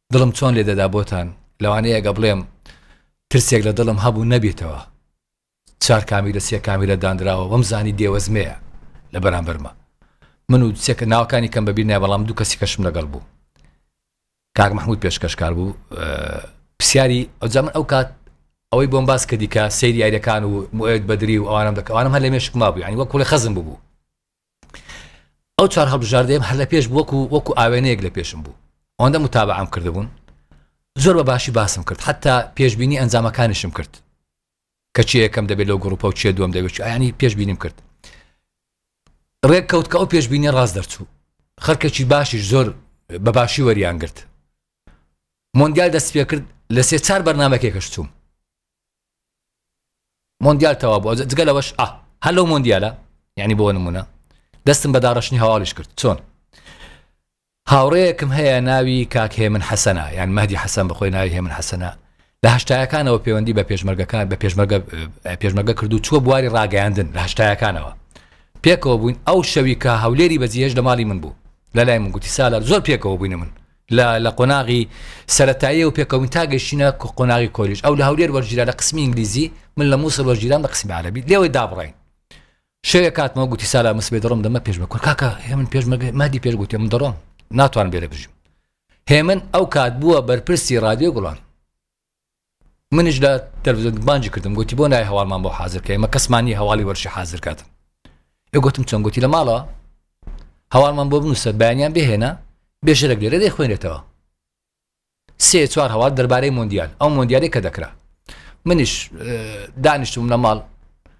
دڵم چۆن لێ دەدا بۆتان لەوانەیە ئەگە بڵێم ترسێک لە دڵم هەبوو نەبێتەوە چار کامیرە سێ کامیرە دانراوە وەم زانی دێوەزمەیە لە بەرامبەرمە من و سێکە ناوکانی کەم بەبییر نای بەڵام دوو کەسی کەشم لەگەڵ بوو کاک مححمود پێشکەشکار بوو پرسیاری ئەوجا من ئەو کات ئەوەی بۆم باس کە دیکە سەیری یاریەکان و موێت بەدری و ئەوانم دەکەوانم هەر لە مێشک ما بوو ینی وە کوڵی خەزم ببوو ئەو چوار هەڵبژاردەیەم هەر لە پێش وەکو وەکو ئاوێنەیەک لە پێشم بوو ئەوەندە متابعام کردبوون زۆر بە باشی باسم کرد حتا پێشببینی ئەنجامەکانیشم کرد کەچی یەکەم دەبێت لەو گروپە و چێ دوم دەبێت ئەنی پێشببینیم کرد ڕێک کەوت کە ئەو پێشببینی ڕاست دەرچوو خەرکەکی باشیش زۆر بە باشی وەریان گرت مۆندیال دەست پێ کرد لە سێ چار بەرنمەکێکەش چووم مۆندیال تەوا بوو جگە لەوەش ئا هەر لەو مۆندیالە یعنی بۆ نمونە دەستم بە داڕشتنی هەواڵیش کرد چۆن هاوڕەیەکم هەیە ناوی کاک هێمن حەسەنە یان مەدی حەسەن بەخۆی ناوی هێمن حەسەنە لە هەشتایەکانەوە پەیوەندی بە پێشمەرگەکان بە پێشمەرگە پێشمەرگە کردو چوە بواری ڕاگەیاندن لە هەشتایەکانەوە پێکەوە بووین ئەو شەوی کە هەولێری بەجیهێش لە ماڵی من بوو لە لای من گوتی سالار زۆر پێکەوە بووینە من لە لە قۆناغی سەرەتاییەوە پێکەوەین تا گەشتینە قۆناغی کۆلیژ ئەو لە هەولێر وەرگیرا لە قسمی ئینگلیزی من لە مووسڵ وەرگیرام لە قسمی عەرەبی لێوەی دابڕین شەوێ کاتمەوە گوتی سالا مسبێ دەڕۆم دەمە پێشمە کورد کاکە هێمن پێشمەگە مادی پێش گوتێ من دەڕۆم ناتوان بێرە بژیم هێمن ئەو کات بووە بەرپرسی رادیۆ گوڵان منیش لە تەلویزیۆن بانجی کردم گوتی بۆ نای هەواڵمان بۆ حاضر کە ئمە کەسمانی هەواڵی وەرشی حاضر کاتم ئێ گوتم چۆن گوتی لە ماڵەوە هەواڵمان بۆ بنووسە بەیانیان بهێنە بێژەرەک لێرە دەی خوێنێتەوە سێ چوار هەواڵ دەربارەی مۆندیال ئەو مۆندیالی کە دەکرا منیش دانیشتم لە ماڵ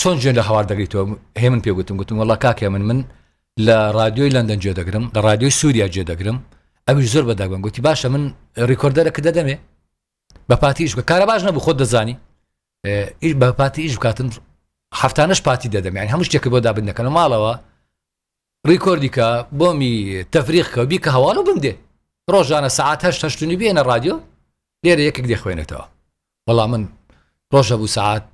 چۆن گوێ لە هەوار دەگریتەوە؟ هێمن پێ گوتم گوتم وەڵا کاک هێمن من لە رادیۆی لەندەن گوێ دەگرم لە رادیۆی سووریا گوێ دەگرم ئەویش زۆر بەداگوم گوتی باشە من ریکۆردەرە کە دەدەمێ بە پاتیش بە کارە باش نەبوو خۆت دەزانی ئیش بە پاتی ئیش بکاتن هەفتانش پاتی دەدەم یان هەموو شتێکە بۆ دابن دەکەنە ماڵەوە ڕیکۆردیکە بۆمی تەفریقکە بیکە هەواڵ و بندێ ڕۆژانە سعات هەشتنی بێنە ڕادیۆ لێرە یەکێک دەخوێنێتەوە وەڵا من ڕۆژە بوو سعات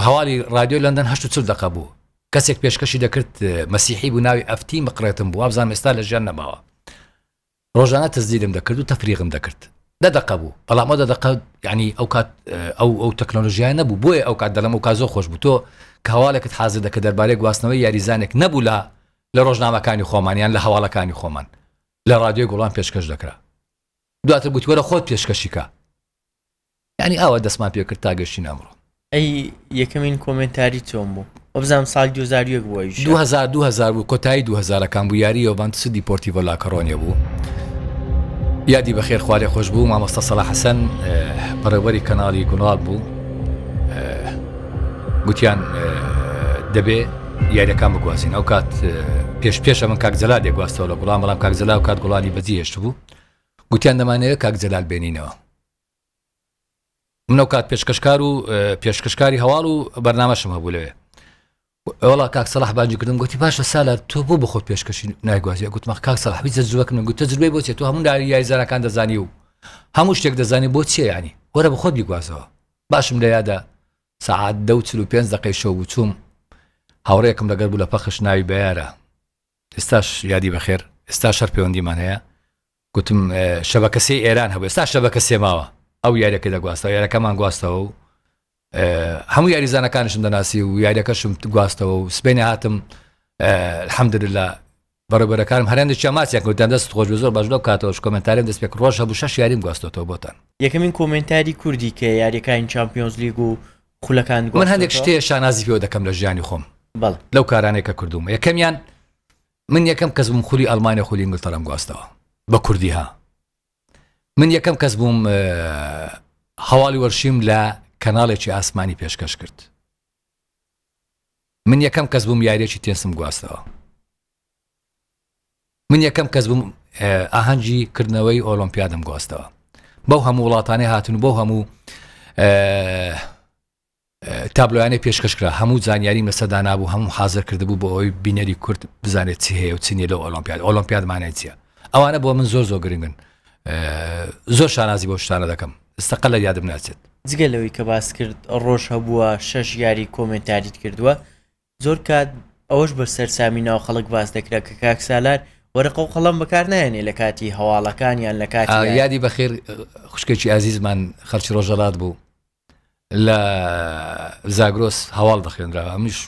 هەواڵی رادیۆی لەندەن هەشت چل دقە بوو کەسێک پێشکەشی دەکرد مەسیحی بوو ناوی ئەفتی مقرێتم بوو ئابزان ئێستا لە ژیان نەماوە ڕۆژانە تەزدیرم دەکرد و تەفریغم دەکرد دە دقە بوو بەڵامە دە دقە ینی ئەو کات ئەو ئەو تەکنۆلژیای نەبوو بۆیە ئەو کات دەلم و کازۆ خۆش بوو تۆ کاواڵێکت حاضر دەکە دەربارەی گواستنەوەی یاریزانێک نەبوو لە لە ڕۆژنامەکانی خۆمانیان لە هەواڵەکانی خۆمان لە رادیۆی گوڵان پێشکەش دەکرا دواتر گوتوەرە خۆت پێشکەشیکە یانی ئاوا دەستمان پێ کرد تا گەشتینە ئەمڕۆ. ئەی یەکەمین کۆمێنتاری چۆن بوو؟ وەبزانم ساڵی دوو هەزار و یەک بوو ئەویش. دوو هەزار دوو هەزار بوو کۆتایی دوو هەزارەکان بوو یاری یۆڤانتوسی دیپۆرتیڤۆ لاکۆرۆنیە بوو یادی بەخێر خوا لێ خۆش بوو مامۆستا سەڵاح حەسەن بەڕێوەبەری کەناڵی گوڵاڵ بوو گوتیان دەبێ یاریەکان بگوازین ئەو کات پێش پێشە من کاک جەلا دێگواستەوە لە گوڵام بەڵام کاک جەلا و کات گوڵانی بەجی هێشت بوو گوتیان دەمانەوێت کاک جەلال بێنینەوە من ئەوکات پێشکەشکار و پێشکەشکاری هەواڵ و بەرنمەشم هەبوو لەوێ ئەوڵا کاک سەلاح باجی کردم گوتی باشە سالا تۆ بۆ بخۆت پێشکەشی نایگوازی گوتمە کاک سەلاح بیزە زوەک من گوتە زربەی بۆچێت تۆ هەموو داری یایزانەکان دەزانی و هەموو شتێک دەزانانی بۆ چیە ینی وەرە بخۆت بیگوازەوە باشم لە یادە سعات دە چ پێ دقی شەو بچووم هاوڕێکم لەگەر بوو لە پەخش ناوی بەیارە ئێستاش یادی بەخێر ئێستاش هەر پەیوەندیمان هەیە گوتم شەبەکە سێ ئێران هەبوو ئێستا شەبەکە سێ ماوە ئەو یاریەکە دەگواستەوە یارەکەمان گواستەوە و هەموو یاریزانەکانشم دەناسی و یاریەکەشم گواستەوە و سبینێ هاتم حەمدرلا بەڕێبەرەکانم هەرێن دەچیا ماسیان کەوتیان دەست خۆش زۆر باش لەو کاتەوەش کۆمنتاریم دەست پێک ڕۆژ هەبوو شەش یاریم گواستۆتەوە بۆتان یەکەمین کۆمنتاری کوردی کە یاریەکانی چمپیۆنز لیگ و خولەکانت من هەندێک گواستۆتەوە؟ شتێ شانازی پێوە دەکەم لە ژیانی خۆم بەڵێ. لەو کارانەی کە کردووم یەکەمیان من یەکەم کەس بووم خولی ئەڵمانیا خولی ئینگلتەرام گواستەوە بە کوردی ها من یەکەم کەس بووم اه، هەواڵی وەرشیم لە کەناڵێکی ئاسمانی پێشکەش کرد من یەکەم کەس بووم یاریەکی تێنسم گواستەوە من یەکەم کەس بووم ئاهەنگی کردنەوەی ئۆلۆمپیادم گۆستەوە بەو هەموو وڵاتانی هاتن و بۆ هەموو تابلۆیانەی پێشکەشکرا هەموو زانیاری مەسەدا نبوو هەموو حاضر کردبوو بۆ ئەوی بینەری کورد بزانێت چی هەیە و چنیە لە ئۆلۆمپیاد ئۆلۆمپیادمانای چیە ئەوانە بۆ من زۆر زۆر گرنگن زۆر شانازی بۆ شتانە دەکەم ئستەقل لە یادم ناچێت جگە لەوەی کە باس کرد ڕۆژ هەبووە شەش یاری کۆمنتاریت کردووە زۆر کات ئەوەش بە سەرسامی ناو خەڵک باس دەکرا کە کاک سالار وەرەقە و قەڵەم بەکار نایەنێ لە کاتی هەواڵەکان یان لە کاتی ئایا یادی بەخێر خوشکێکی ئازیزمان خەڵکی ڕۆژەڵات بوو لە زاگرۆس هەواڵ دەخێنرا ئەمیش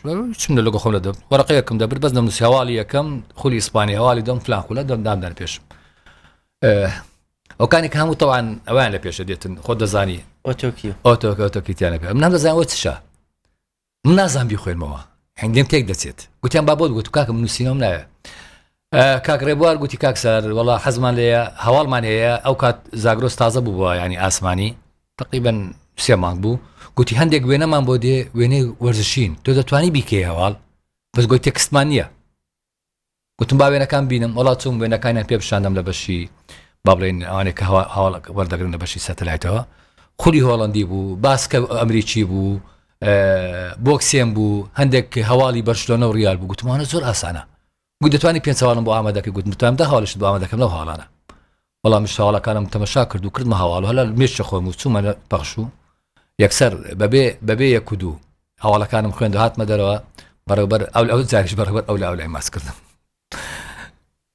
چم لە لەگە خۆم لە دەم وەرەقەیەکم دەبر بەس دەم نووسی هەواڵی یەکەم خولی ئیسپانی هەواڵی دەم فلان خولە دەم دامدان پێش ئەوکانی کە هەموو تەوان ئەوان لە پێشە دێتن خۆ دەزانی ئۆتۆکی ئۆتۆکەوتەکیتیانەکە من دەزانەوە چشە من نازانم بیخوێنمەوە هەنگێم تێک دەچێت گوتیان با بۆت گوت کاکم نووسینەوەم ناوێت کاک ڕێبوار گوتی کاک سەر وڵا حەزمان لێە هەواڵمان هەیە ئەو کات زاگرۆس تازە بوو بووە ینی ئاسمانی تقیبن سێ مانگ بوو گوتی هەندێک وێنەمان بۆ دێ وێنەی وەرزشین تۆ دەتوانی بیکەی هەواڵ بەس گوی تێکستمان نییە گوتم با وێنەکان بینم وڵات چوم وێنەکانیان پێ پیشاندەم لە بەشی با بڵێن ئەوانێک کە هەواڵک وەردەگرن لە بەشی سەتەلایتەوە خولی هۆڵندی بوو باسکە ئەمریکی بوو بۆکسێن بوو هەندێک هەواڵی بەرشلۆنە و ریال بوو گوتمانە زۆر ئاسانە گوت دەتوانانی پێنج هەواڵم بۆ ئامادەکە گوتمتان دە هەواڵشت بۆ ئامادەکەم لەو هاڵانە بەڵام منیش هەواڵەکانم تەمەشا کرد و کردمە هەواڵ و هەلال مێشکی خۆم و چوومە پەخش و یەکسەر بەبێ بەبێ یەک و دوو هەواڵەکانم خوێند و هاتمە دەرەوە بەڕێوبەر ئەو ئەو جاریش بەڕێوبەر ئەو لە ئەو لای ماچ کردم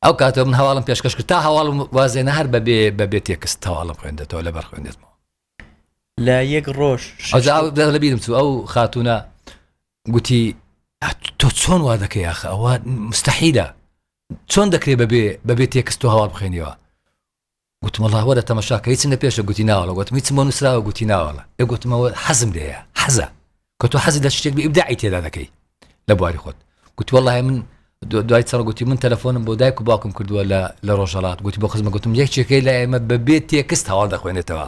ئەو کاتەوە من هەواڵم پێشکەش کرد تا هەواڵم وازێنە هەر بەبێ بەبێ تێکست هەواڵم خوێندێتەوە لەبەر خوێندێتمەوە لە یەک ڕۆژ شەش ئەوجا ئەو دەر لەبیرم چوو ئەو خاتوونە گوتی تۆ چۆن وا دەکەی یاخە ئەوە مستحیلە چۆن دەکرێ بەبێ بەبێ تێکست تۆ هەواڵ بخوێنیەوە گوتم وەڵا وەرە تەمەشاکە هیچم لە پێشە گوتی ناوەڵە گوتم هیچم بۆ نووسراوە گوتی ناوەڵە ئێ گوتمەوە حەزم لێیە حەزە کە تۆ حەزی لە شتێک بە ئیبداعی تێدا دەکەی لە بواری خۆت گوتی وەڵا من دوای چڕ گوتی من تەلەفۆنم بۆ دایک و باوکم کردووە لە لە ڕۆژهەڵات گوتی بۆ خزمە گوتم یەکێکەکەی لە ئێمە بەبێ تێکست هەواڵ دەخوێنێتەوە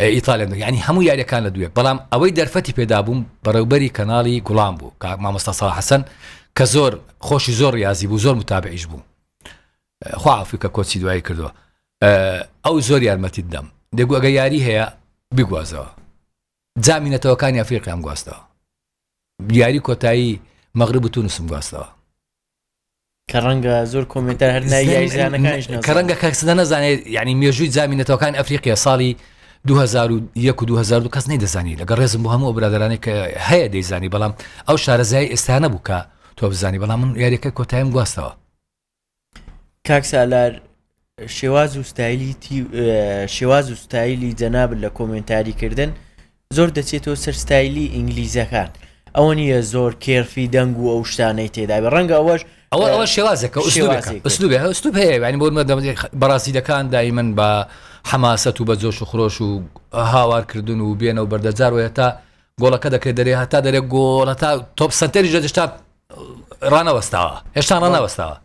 ئیتالیام دەکرد یانی هەموو یاریەکان لە دوێ بەڵام ئەوەی دەرفەتی پێدابووم بەڕێوبەری کەناڵی گوڵام بوو کە مامۆستا ساڵ حەسەن کە زۆر خۆشی زۆر ڕاضی بوو زۆر متابعیش بوو خوافی کە کۆچی دوایی کردووە ئەو زۆر یارمەتی دەم دەگو ئەگە یاری هەیە بگوازەوە جامی نەتەوەکانی ئەفریقیان گواستەوە یاری کۆتایی مەغرب و تونسم گواستەوە کە ڕەنگە زۆر کۆمنتار هەر نای یای زانەکانیش نەزانێت. کە ڕەنگە کەس نەزانێت یعنی مێژووی جامی نەتەوەکان ئەفریقیا ساڵی 2001 و 2002 کەس نەیدەزانی لەگەڵ ڕێزم بۆ هەموو ئەو برادرانێک کە هەیە دەیزانی بەڵام ئەو شارەزای ئێستا نەبوو کە تۆ بزانی بەڵام من یاریەکە کۆتایم گواستەوە کاک سالار شێواز و ستایلی تی شێواز و ستایلی جەنابت لە کۆمێنتاری کردن زۆر دەچێتەوە سەر ستایلی ئینگلیزەکان ئەوە نییە زۆر کێرفی دەنگ و ئەو شتانەی تێدابێ ڕەنگە ئەوەش ئەوە ئەوە شێوازێکە شێوازێک ئوسلوبێکە ئوسلوبێ ئوسلوب هەیە یعنی بۆ مەدەم بەڕازیلەکان دایمن بە حەماسەت و بە جۆش و خرۆش و هاوارکردن و بێنە و بەردەجار و هەتا گۆڵەکە دەکرێت دەرێ هەتا دەرێ گۆڵ هەتا تۆپ سنتەریش دەشتا ڕانەوەستاوە هێشتا ڕانەوەستاوە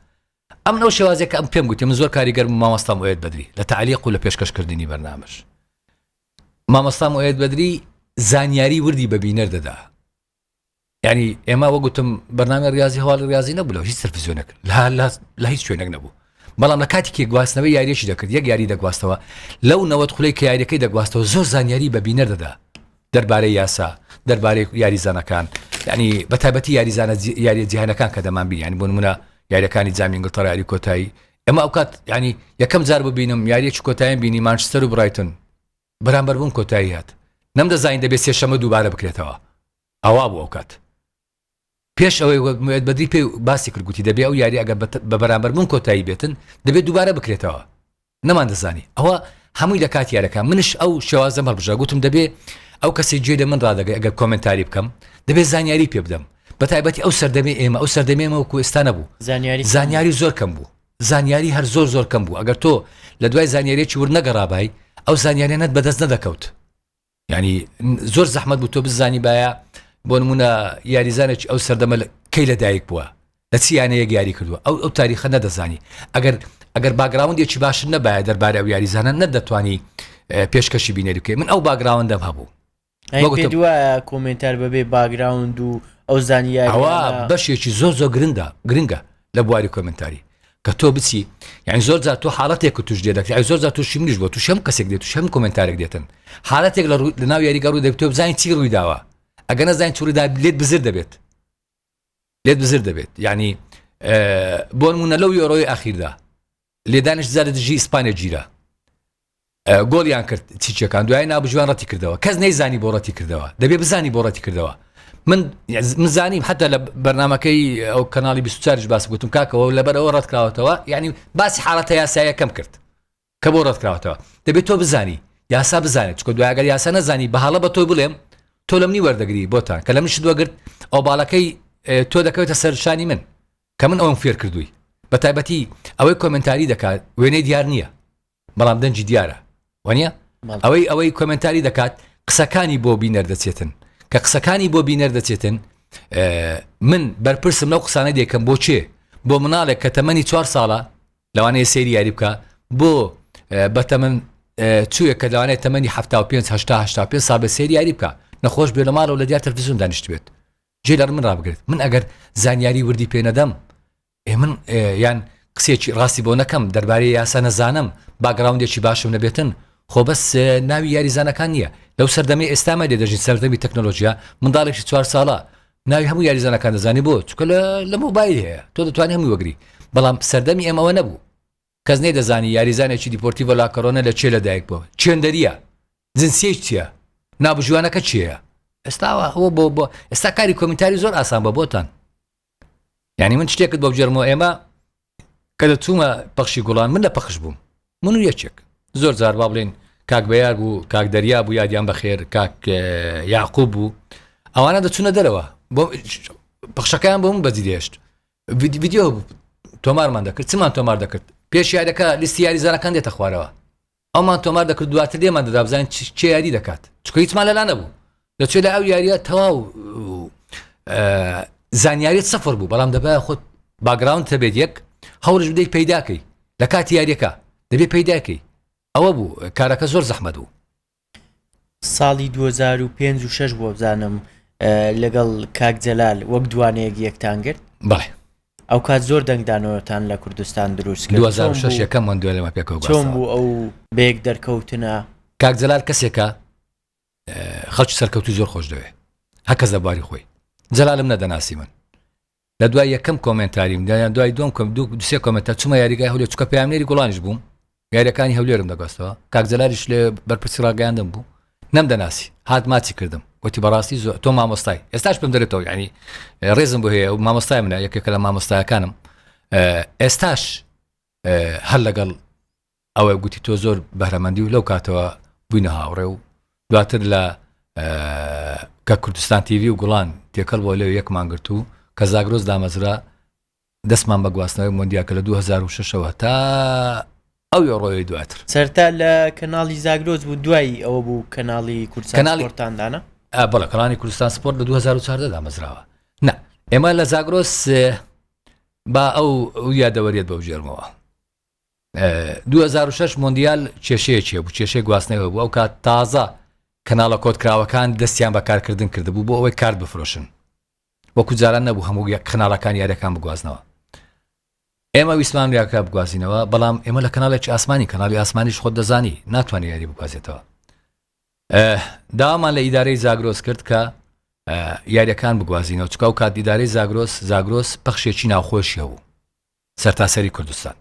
ئەمن ئەو شێوازێ کە ئەم پێم گوتی من زۆر کاریگەر بوو مامۆستام ئۆێت بەدری لە تەعلیق و لە پێشکەش کردنی بەرنامەش مامۆستام ئۆێت بەدری زانیاری وردی بە بینەر دەدا ینی ئێمە وەگوتم بەنامی ڕاضی هەواڵی ڕاضی نەبوو لە هیچ سەرفزیۆنێک لە هیچ شوێنێک نەبوو بەڵام لە کاتێکی گواستنەوەی یاریشی دەکرد یەک یاری دەگواستەوە لەو نەوەت خولەی کە یاریەکەی دەگواستەوە زۆر زانیاری بە بینەر دەدا دەربارەی یاسا دەربارەی یاریزانەکان یعنی بە تابەتی یاریزانە یاریە جیهانەکان کە دەمان بینیان بۆ نمونە یاریەکانی جامینگل تەڕاری کۆتایی ئەمە ئەوکات ینی یەکەم جار ببینم یاریەکی کۆتاییان بینی مانچستەر و برایتن بەرامبەر بوون کۆتاییات نەم دەزانین دەبێت سێشەمە دووبارە بکرێتەوە ئەوا بوو ئەوکات پێش ئەوەی وێت بەدری پێ باسی کرد گوتی دەبێ ئەو یاری ئەگەر بە بەرامبەر من کۆتایی بێتن دەبێت دووبارە بکرێتەوە نەمان دەزانی ئەوە هەمووی لە کات یارەکە منش ئەو شێوازە مەبژە گوتم دەبێ ئەو کەسی گوێ لە من ڕدەگەی ئەگەر کۆمنتاری بکەم دەبێت زانیاری پێ بدەم بە تایبەتی ئەو سەردەمی ئێمە ئەو سەردەمێمە و کوێستان نەبوو زانیاری زانیاری زۆر کەم بوو زانیاری هەر زۆر زۆر کەم بوو ئەگەر تۆ لە دوای زانیارێکی ور نەگەڕابای ئەو زانیارە نەت بەدەست نەدەکەوت یانی زۆر زەحمەت بوو تۆ بزانی باە بۆ نمونە یاریزانێک ئەو سەردەمە کەی لە دایک بووە لە چیانەیەک یاری کردووە ئەو ئەو تاریخە نەدەزانی ئەگەر ئەگەر باگراوندێکی باش نەبایە دەربارە ئەو یاریزانە نەدەتوانی پێشکەشی بینەری بکەی من ئەو باگراوندەم هەبوو دووە کۆمنتار بەبێ باگراوند و ئەو زانیاوە بەشێکی زۆر زۆر گرنگە گرنگە لە بواری کۆمنتاری کە تۆ بچی یعنی زۆر جا تۆ حالاتێک توش دێ دەکرای زۆر جا توشی منیش بۆ توش هەم کەسێک دێت توش هەم کۆمنتارێک دێتن حالاتێک لە لە ناو یاریگە ڕوو دەبێت تۆ بزانین چی ڕووی داوە ئەگە نەزانین چوریدا لێت بزر دەبێت لێت بزر دەبێت یعنی بۆ منە لەو یۆرۆی ئاخیردا لێدانیش زیاد دژی ئیسپانیا گیرا گۆڵیان کرد چیچەکان دوای نابژوان ڕەتی کردەوە کەس نەیزانی بۆ ڕەتی کردەوە دەبێ بزانی بۆ ڕەتی کردەوە من مزانیم حتا لە بەرنمەکەی ئەو کەناڵی 24 باس گوتم کاکەەوە لەبەرەوە ڕەتکراوەتەوە ینی باسی حاڵەتە یاسایەکەم کرد کە بۆ ڕەتکراوەتەوە دەبێت تۆ بزانی یاسا بزانێت چکە دوایگەر یاسا نەزانی بە هەڵە بە تۆی بڵێم تۆ لەمنی وەردەگری بۆتان کە لە منش دوگرت ئەو باڵەکەی تۆ دەکەوێتە سەرشانی من کە من ئەوم فێر کردووی بە تایبەتی ئەوەی کۆمێنتاری دەکات وێنەی دیار نییە بەڵام دەنگی دیارە وانیە ئەوەی ئەوەی کۆمێنتاری دەکات قسەکانی بۆ بینەر دەچێتن کە قسەکانی بۆ بینەر دەچێتن من بەرپرسم لەو قسانە دێکەم بۆ چێ بۆ مناڵێک کە تەمەنی چوار ساڵە لەوانەیە سێری یاری بکە بۆ بەتەمن چووە کە لەوانێت تەمەنی 5 پێ سا بە سێری یاری بکە نەخۆش بێ لە ماڵەوە لە دیار تەلفزیون دانیشت بێت جێ لەر من ڕابگرێت من ئەگەر زانیاری وردی پێ نەدەم ئێ من یان قسێکی ڕاستی بۆ نەکەم دەربارەی یاسا نەزانم باگراوندێکی باشم نەبێتن خۆ بەس ناوی یاریزانەکان نییە لەو سەردەمی ئێستامە لێ دەژین سەردەمی تەکنۆلۆژیا منداڵێکی چوار ساڵە ناوی هەموو یاریزانەکان دەزانی بۆ چکە لە موبایل هەیە تۆ دەتوانانی هەموو وەگری بەڵام سەردەمی ئێمەوە نەبوو کەس نەیدەزانی یاریزانێکی دیپۆرتیڤۆ لاکۆرۆنە لە کوێ لەدایک بووە، چوێندەرییە، جنسیەی چییە، ناوبژیوانەکە کێیە؟ ئێستا ئەوە ئەوە بۆ بۆ ئێستا کاری کۆمینتاری زۆر ئاسان بە بۆتان یعنی من شتێکت بۆ بجێرمەوە ئێمە کە دەچوومە پەخشی گوڵان من لە پەخش بووم من و یەکێک زۆر جار با بڵێن کاک بەیار بوو کاک دەریا بوو یادیان بەخێر کاک یاقوب بوو ئەوانە دەچوونە دەرەوە بۆ پخشەکەیان بۆ من بەجی دێشت ڤیدیۆ تۆمارمان دەکرد چمان تۆمار دەکرد پێش یاریەکە لیستی یاریزانەکان دێتە خوارەوە ئەومان تۆمار دەکرد دواتر دێمان دەدابزانین چێ یاری دەکات چکە هیچمان لەلا نەبوو دەچێت لە ئەو یاریە تەواو زانیاریت سەفر بوو بەڵام دەبە خۆت باگراوند تەبێت یەک هەوڵش بدەیت پەیداکەی لە کاتی یاریەکە دەبێت پەیداکەی ئەوە بوو کارەکە زۆر زەحمە بوو ساڵی دوو هەزار و پێنج و شەش بووە بزانم لەگەڵ کاک جەلال وەک دوانەیەک یەکتان گرت بەڵێ ئەو کات زۆر دەنگدانەوەتان لە کوردستان دروست کرد 2006 یەکەم من دوێ لەمە پێکەوە چۆن بوو ئەو بێک دەرکەوتنە کاک جەلال کەسێکە خەڵکی سەرکەوتو زۆر خۆش دەوێ هەکەس لە بواری خۆی جەلالم نەدەناسی من لە دوای یەکەم کۆمێنتاریم دا یان دوای دوم کەم دوو سێ کۆمێنتە چوومە یاریگای هەولێر چووکە پەیامنێری گوڵانیش بووم یاریەکانی هەولێرم دەگەستەوە کاک جەلالیش لێ بەرپرسی ڕاگەیاندم بوو نەم دەناسی هات ماچی کردم وتی بەڕاستی زۆر تۆ مامۆستای ئێستاش پێم دەرێتەوە ینی ڕێزم بۆ هەیە و مامۆستای منە یەکێکە لە مامۆستایەکانم ئێستاش هەر لەگەڵ ئەوە گوتی تۆ زۆر بەرەمەندی و لەو کاتەوە بووینە هاوڕێ و دواتر لە کە کوردستان تیوی و گوڵان تێکەڵ بۆ لەو یەکمان گرت و کە زاگرۆز دامەزرا دەستمان بە گواستنەوەی مۆندیا کە لە 2006ەوە تا ئەو ڕۆی دواتر سەرتا لە کەناڵی زاگرۆز بوو دوایی ئەوە بوو کەناڵی کوردستانتاندانە بەڵە کەڵانی کوردستان سپۆرت لە 2014 دامەزراوە نا ئێمە لە زاگرۆس با ئەو یادەوەریت بەو ژێرمەوە دوو هەزار و شەش مۆندیال کێشەیەکی هەبوو، کێشەی گواستنەوە هەبوو، ئەوکات تازە کەناڵە کۆدکراوەکان دەستیان بە کارکردن کردبوو بۆ ئەوەی کارت بفرۆشن، وەکو جاران نەبوو هەموو کەناڵەکان یارییەکان بگوازنەوە، ئێمە ویستمان یاریەکە بگوازینەوە، بەڵام ئێمە لە کەناڵێکی ئاسمانی، کەناڵی ئاسمانیش خۆت دەزانی ناتوانێت یاری بگوازێتەوە، داوامان لە ئیدارەی زاگرۆس کرد کە یارییەکان بگوازینەوە، چونکە ئەوکات ئیدارەی زاگرۆس، زاگرۆس پەخشێکی ناوخۆشی هەبوو. سەرتاسەری کوردستان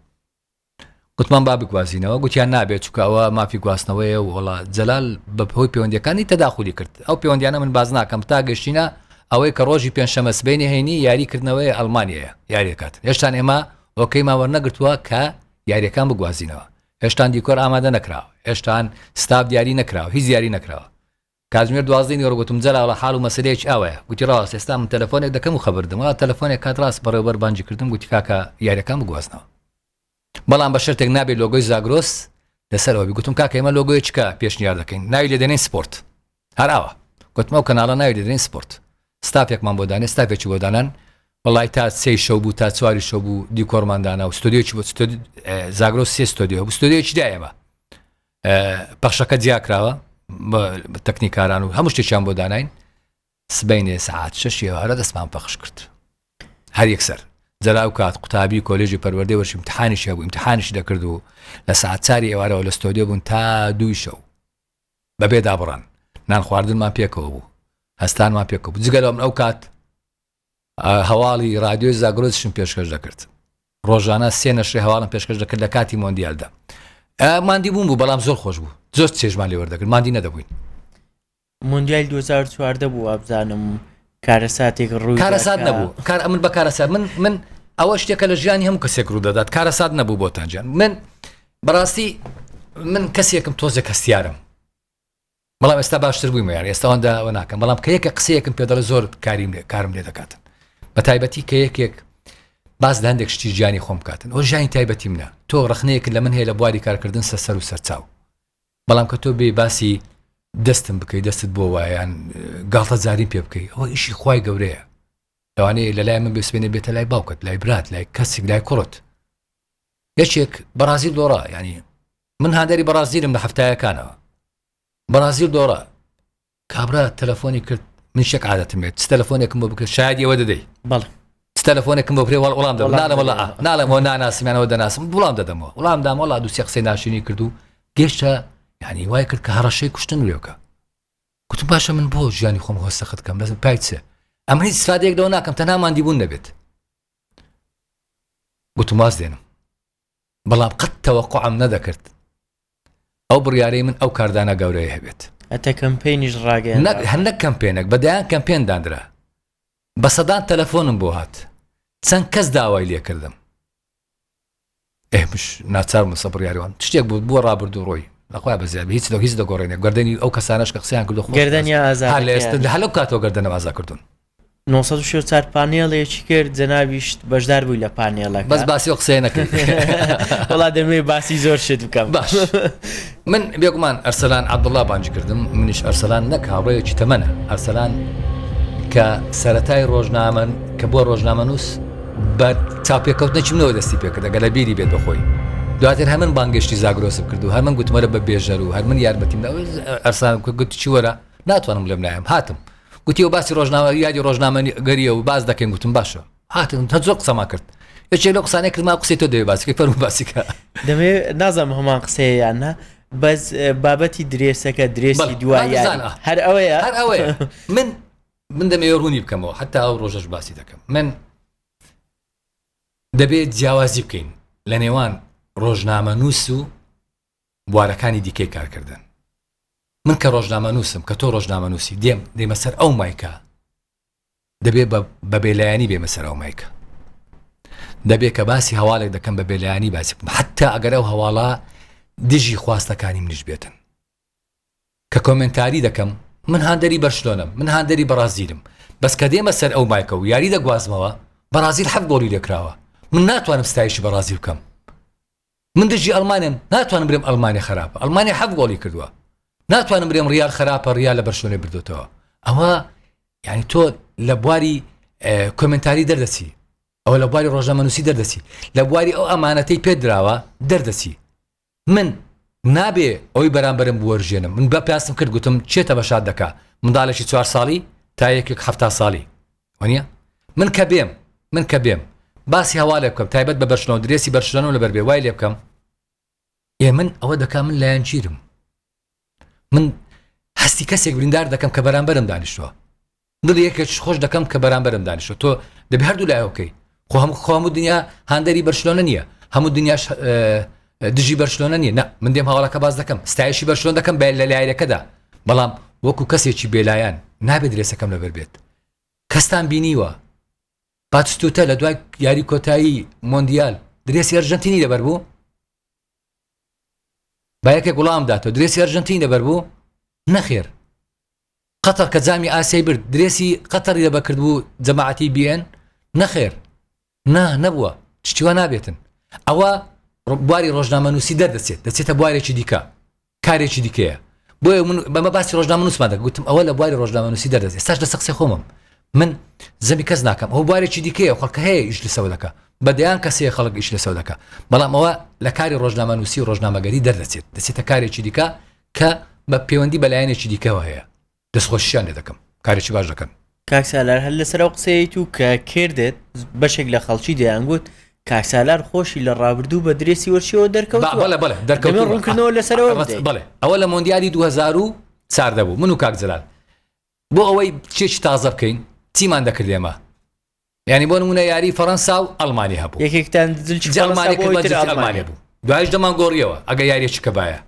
گوتمان با بگوازینەوە گوتیان نابێت چکە ئەوە مافی گواستنەوەیە و وڵا جەلال بە هۆی پەیوەندەکانی تەداخلی کرد ئەو پەیوەندیانە من باز ناکەم تا گەشتینە ئەوەی کە ڕۆژی پێنجشەمە سبەینی هەینی یاریکردنەوەی ئەلمانیەیە یاریەکات هێشتان ئێمە ئۆکەیمان وەرنەگرتووە کە یاریەکان بگوازینەوە هێشتان دیکۆر ئامادە نەکراوە هێشتان ستاف دیاری نەکراوە هیچ دیاری نەکراوە کاتژمێر دوازدەی نیوەڕۆ گوتم، جەلاڵە حاڵ و مەسەلەیەکی ئاوایە. گوتی، ڕاست، ئێستا من تەلەفۆنێک دەکەم و خەبەر دەدەم. وەڵا تەلەفۆنێک کات ڕاست بەڕێوەبەر بانگی کردم، گوتی، کاکە یارییەکان بگوازنەوە. بەڵام بە شەرتێک نابێ لۆگۆی زاگرۆس لەسەرەوە بێ. گوتم، کاکە ئێمە لۆگۆی چ پێشنیار دەکەین؟ ناوی لێ دەنێین سپۆرت. هەر ئاوا. گوتم، ئەو کەناڵە ناوی لێ دەنێین سپۆرت. ستافێکمان بۆ دانێ. ستافێکی بۆ دانان. وەڵای تا سێی شەو بوو، تا چواری شەو بوو، دیکۆرمان دانا و ستۆدیۆیەکی بۆ، ستۆدیۆ، زاگرۆس سێ ستۆدیۆ هەبوو، ستۆدیۆیەکی دا ئێمە. پەخشەکە جیاکراوە تەکنیکاران و هەموو شتێکیان بۆ داناین سبینێ سعات شەشی هەرە دەستمان پەخش کرد هەر یەکسەر جەراو کات قوتابی کۆلێژی پەروەردەی وەشی امتحانیش هەبوو امتحانیش دەکرد و لە سعات چاری ئێوارەوە لە ستۆدیۆ بوون تا دووی شەو بەبێ دابڕان نان خواردنمان پێکەوە بوو هەستانمان پێکە بوو جگەلەم ئەو کات هەواڵی رادیۆی زاگرۆسیشم پێشکەش دەکرد. ڕۆژانە سێ نەشری هەواڵم پێشکەش دەکرد لە کاتی مۆندیالدا. ماندی بوون بوو بەڵام زۆر خۆش بوو. زۆر چێژمان لێ وەردەگرت ماندی نەدەبووین. مۆندیال 2014 بوو وابزانم کارەساتێک ڕووی کارەسات نەبوو کار ئەمن بە کارەسات من من ئەوە شتێکە لە ژیانی هەموو کەسێک ڕوو دەدات کارەسات نەبوو بۆتانجان من بەڕاستی من کەسێکم تۆزێک هەستیارم بەڵام ئێستا باشتر بوویمە یان ئێستاوان داوە ناکەم بەڵام کە یەکە قسەیەکم پێ دەڵێ زۆر کاریم لێ کارم لێ دەکاتن بە تایبەتی کە یەکێک باز لە هەندێک شتی ژیانی خۆم کاتن ئەو ژانی تایبەتی منە تۆ ڕخنەیەک لە من هەیە لە بواری کارکردن سە سەر و سەرچاو بەڵام کە تۆ بێ باسی دەستم بکەیت دەستت بۆ وایەن گاڵتە زارین پێ بکەیت ئەوە ئیشی خی گەورەیە لەوانەیە لە لای من بسبێنێ بێتە لای باوکت لای برات لای کەسێک لای کوڕت یەکێک بەڕازیل دۆڕا ینی من هاندەری بەڕازیلم لە هەفتایەکانەوە بەڕازیل دۆڕا کابرا تەلەفۆنی کرد من شێک عادەتم بێت چ تەلەفۆنێکم بۆ بکرد شاید ئێوە دەدەی بەڵ چ تەلەفۆنێکم بۆ برێوەڵ وڵام دەڵ نالەوەڵا نالەمەوە ناناسیمانەوە دەناسم وڵام دەدەمەوە وڵام دامەڵا دوو سێ قسەی ناشرینی کردو گەشتە یعنی وای کرد کە هەڕەشەی کوشتن لێوکە کوتم باشە من بۆ ژیانی خۆم هۆستەخت کەم لەزم پایچە ئەمە هیچ سادێک لەوە ناکەم تەناماندی بوون نەبێت گوتم واز دێنم بەڵام قەت تەوەقوعم نەدەکرد ئەو بڕیارەی من ئەو کاردانە گەورەی هەبێت. هەتا کەمپەینیش ڕاگەیاندرا. نەک هەر نەک کەمپەینەک بە دەیان کەمپەین دانرا. بە سەدان تەلەفۆنم بۆ هات. چەند کەس داوای لێ کردم. ئێمش ناچار بووم سە بڕیارەوەم. تشتێک بوو بووە ڕابردوو ڕۆی. نەخوای بەزیابی هیچ لەو هیچ دەگۆڕێنێ گەردەنی ئەو کەسانەش کە قسەیان کردو خۆش گەردەنیا ئازا هەر لە ئێستا هەلو کاتەوە گەردەنم ئازا کردوون. نۆ سەد و سی و چوار پانێڵێکی کرد جەنابیشت بەشدار بووی لە پانێڵەکە بەس باسی ئەو قسەیە نەکەی وڵا دەمێ باسی زۆر شت بکەم باش من بێگومان ئەرسەلان عبدڵا بانج کردم منیش ئەرسەلان نەک هاوڕێکی تەمەە ئەرسەلان کە سەتای ڕۆژنامەن کە بۆ ڕۆژنامە نووس بە چاپێکەوتنەکی منەوە دەستی پێکرد گەلە بیری بێت بەخۆی دواتر هەمن بانگشتی زاگرۆسم کرد و هەمن گوتمەرە بە بێژەر و هەرمن یارمەتیم ئەرسان گوت چی وەرە ناتوانم لەم نایم هاتم گوتی و باسی ڕۆژنامە یادی ڕۆژنامەگەریە و باز دەکەین گوتم باشە هاتن هە زۆر قسەما کرد یەکێ لە قسانە کردما قسەی تۆ دەێ باسیکە فەرمو باسیکە دەمێ نازم هەمان قسەیەیان نا بەس بابەتی درێسەکە درێسی دوایە هەر ئەوەیە هەر ئەوەیە من من دەمێ ڕوونی بکەمەوە حتا ئەو ڕۆژەش باسی دەکەم من دەبێت جیاوازی بکەین لە نێوان ڕۆژنامە نووس و بوارەکانی دیکەی کارکردن من کە ڕۆژنامەنووسم کە تۆ ڕۆژنامەنووسی دێم دێمە سەر ئەو مایکە دەبێ بە بێلایەنی بێمە سەر ئەو مایکە دەبێ کە باسی هەواڵێک دەکەم بە بێلایانی باسی بکەم حتا ئەگەر ئەو هەواڵە دژی خواستەکانی منیش بێتن کە کۆمنتاری دەکەم من هاندەری بەرشلۆنم من هاندەری بەڕازیلم بەس کە دێمە سەر ئەو مایکە و یاری دەگوازمەوە بەڕازیل حەب گۆڵی لێکراوە من ناتوانم ستایشی بەڕازیل بکەم من دژی ئەڵمانیم ناتوانم برێم ئەڵمانیا خەراپە ئەڵمانیا حەفت گۆڵی کردووە ناتوانم برێم ڕیال خراپە ڕیا لە بەرشۆنێ بردوێتەوە ئەوە یعنی تۆ لە بواری کۆمنتاری دەردەچی ئەو لە بواری ڕۆژەمەنووسی دەردەچی لە بواری ئەو ئەمانەتەی پێ دراوە دەردەچی من نابێ ئەوی بەرامبرم بوەرژێنم من بە پاسم کرد گوتم چێتە بە شاد دەکا منداڵێکی چوار ساڵی تا یەکێک هەفتا ساڵی وانە من کە بێم من کە بێم باسی هەوا لێ بکەم تایبەت بە بەرشنەوە درێسی بەرشلەنەوە لەبەر بێ وای لێ بکەم ئێ من ئەوە دەکا من لایەن چیرم من هەستی کەسێک بریندار دەکەم کە بەرامبەرم دانیشتووە دڵ یەکێک خۆش دەکەم کە بەرامبەرم دانیشە تۆ دەبێ هەردوو لایەکەی خۆ هەم خۆم و دنیا هاندەری بەرشلۆنە نییە هەموو دنیاش دژی بەرشلۆنە نیە نە من دێم هەواڵەکە باز دەکەم ستایشی بەرشلۆن دەکەم بە لە لایەکەدا بەڵام وەکو کەسێکی بێلایەن نابێت درێسەکەم لەبەر بێت کەستان بینیوە پاتستوتە لە دوای یاری کۆتایی مۆندیال درێسی ئەرژەنتینی لەبەر بوو بایەکێک وڵام داتەوە درێسی ئەرژەنتین لەبەر بوو نەخێر قەتەر کە جامی ئاسیای برد درێسی قەتەری لە بەکردبوو جەماعەتی بیێن نەخێر نا نەبووە چچیوە نابێتن ئەوە بواری ڕۆژنامەنووسی دەردەچێت دەچێتە بوارێکی دیکە کارێکی دیکەیە بۆیە من بەمە باسی ڕۆژنامەنووسمان دەگوتم ئەوە لە بواری ڕۆژنامەنووسی دەردەێت ساش لە سەقسی خۆمم من زەمی کەس ناکەم ئەو بوارێکی دیکەیە خەڵکە هەیە ئیش لەسەوە دەکە بە دەیان کەسەیە خەڵک ئیش لەسەوە دەکە بەڵام ئەوە لە کاری ڕۆژنامەنووسی ڕۆژنامەگەری دەردەچێت دەچێتە کارێکی دیکە کە بە پەیوەندی بە لایەنێکی دیکەوە هەیە دەستخۆشیان لێ دەکەم کارێکی باش دەکەن کاکسالار هەر لەسەر ئەو قسەیەیت و کە کردێت بەشێک لە خەڵکی دەیانگوت کاکسالار خۆشی لە ڕابردوو بە درێسی وەرچیەوە دەرکەوت بەڵێ بەڵێ دەرکەوت ڕوونکردنەوە لەسەرەوە بڵێ ئەوە لە مۆندیالی 2000 ساردەبوو من و کاکجلال بۆ ئەوەی چێکی تازە بکەین چیمان دەکرد ئێمە؟ یانی بۆ نمونە یاری فەرەنسا و ئەڵمانی هەبوو یەکێکتان دلچ ئەڵمانی کرد بە جلچ ئەڵمانی بوو دوایش دەمان گۆڕیەوە ئەگە یاریەکی کەبایە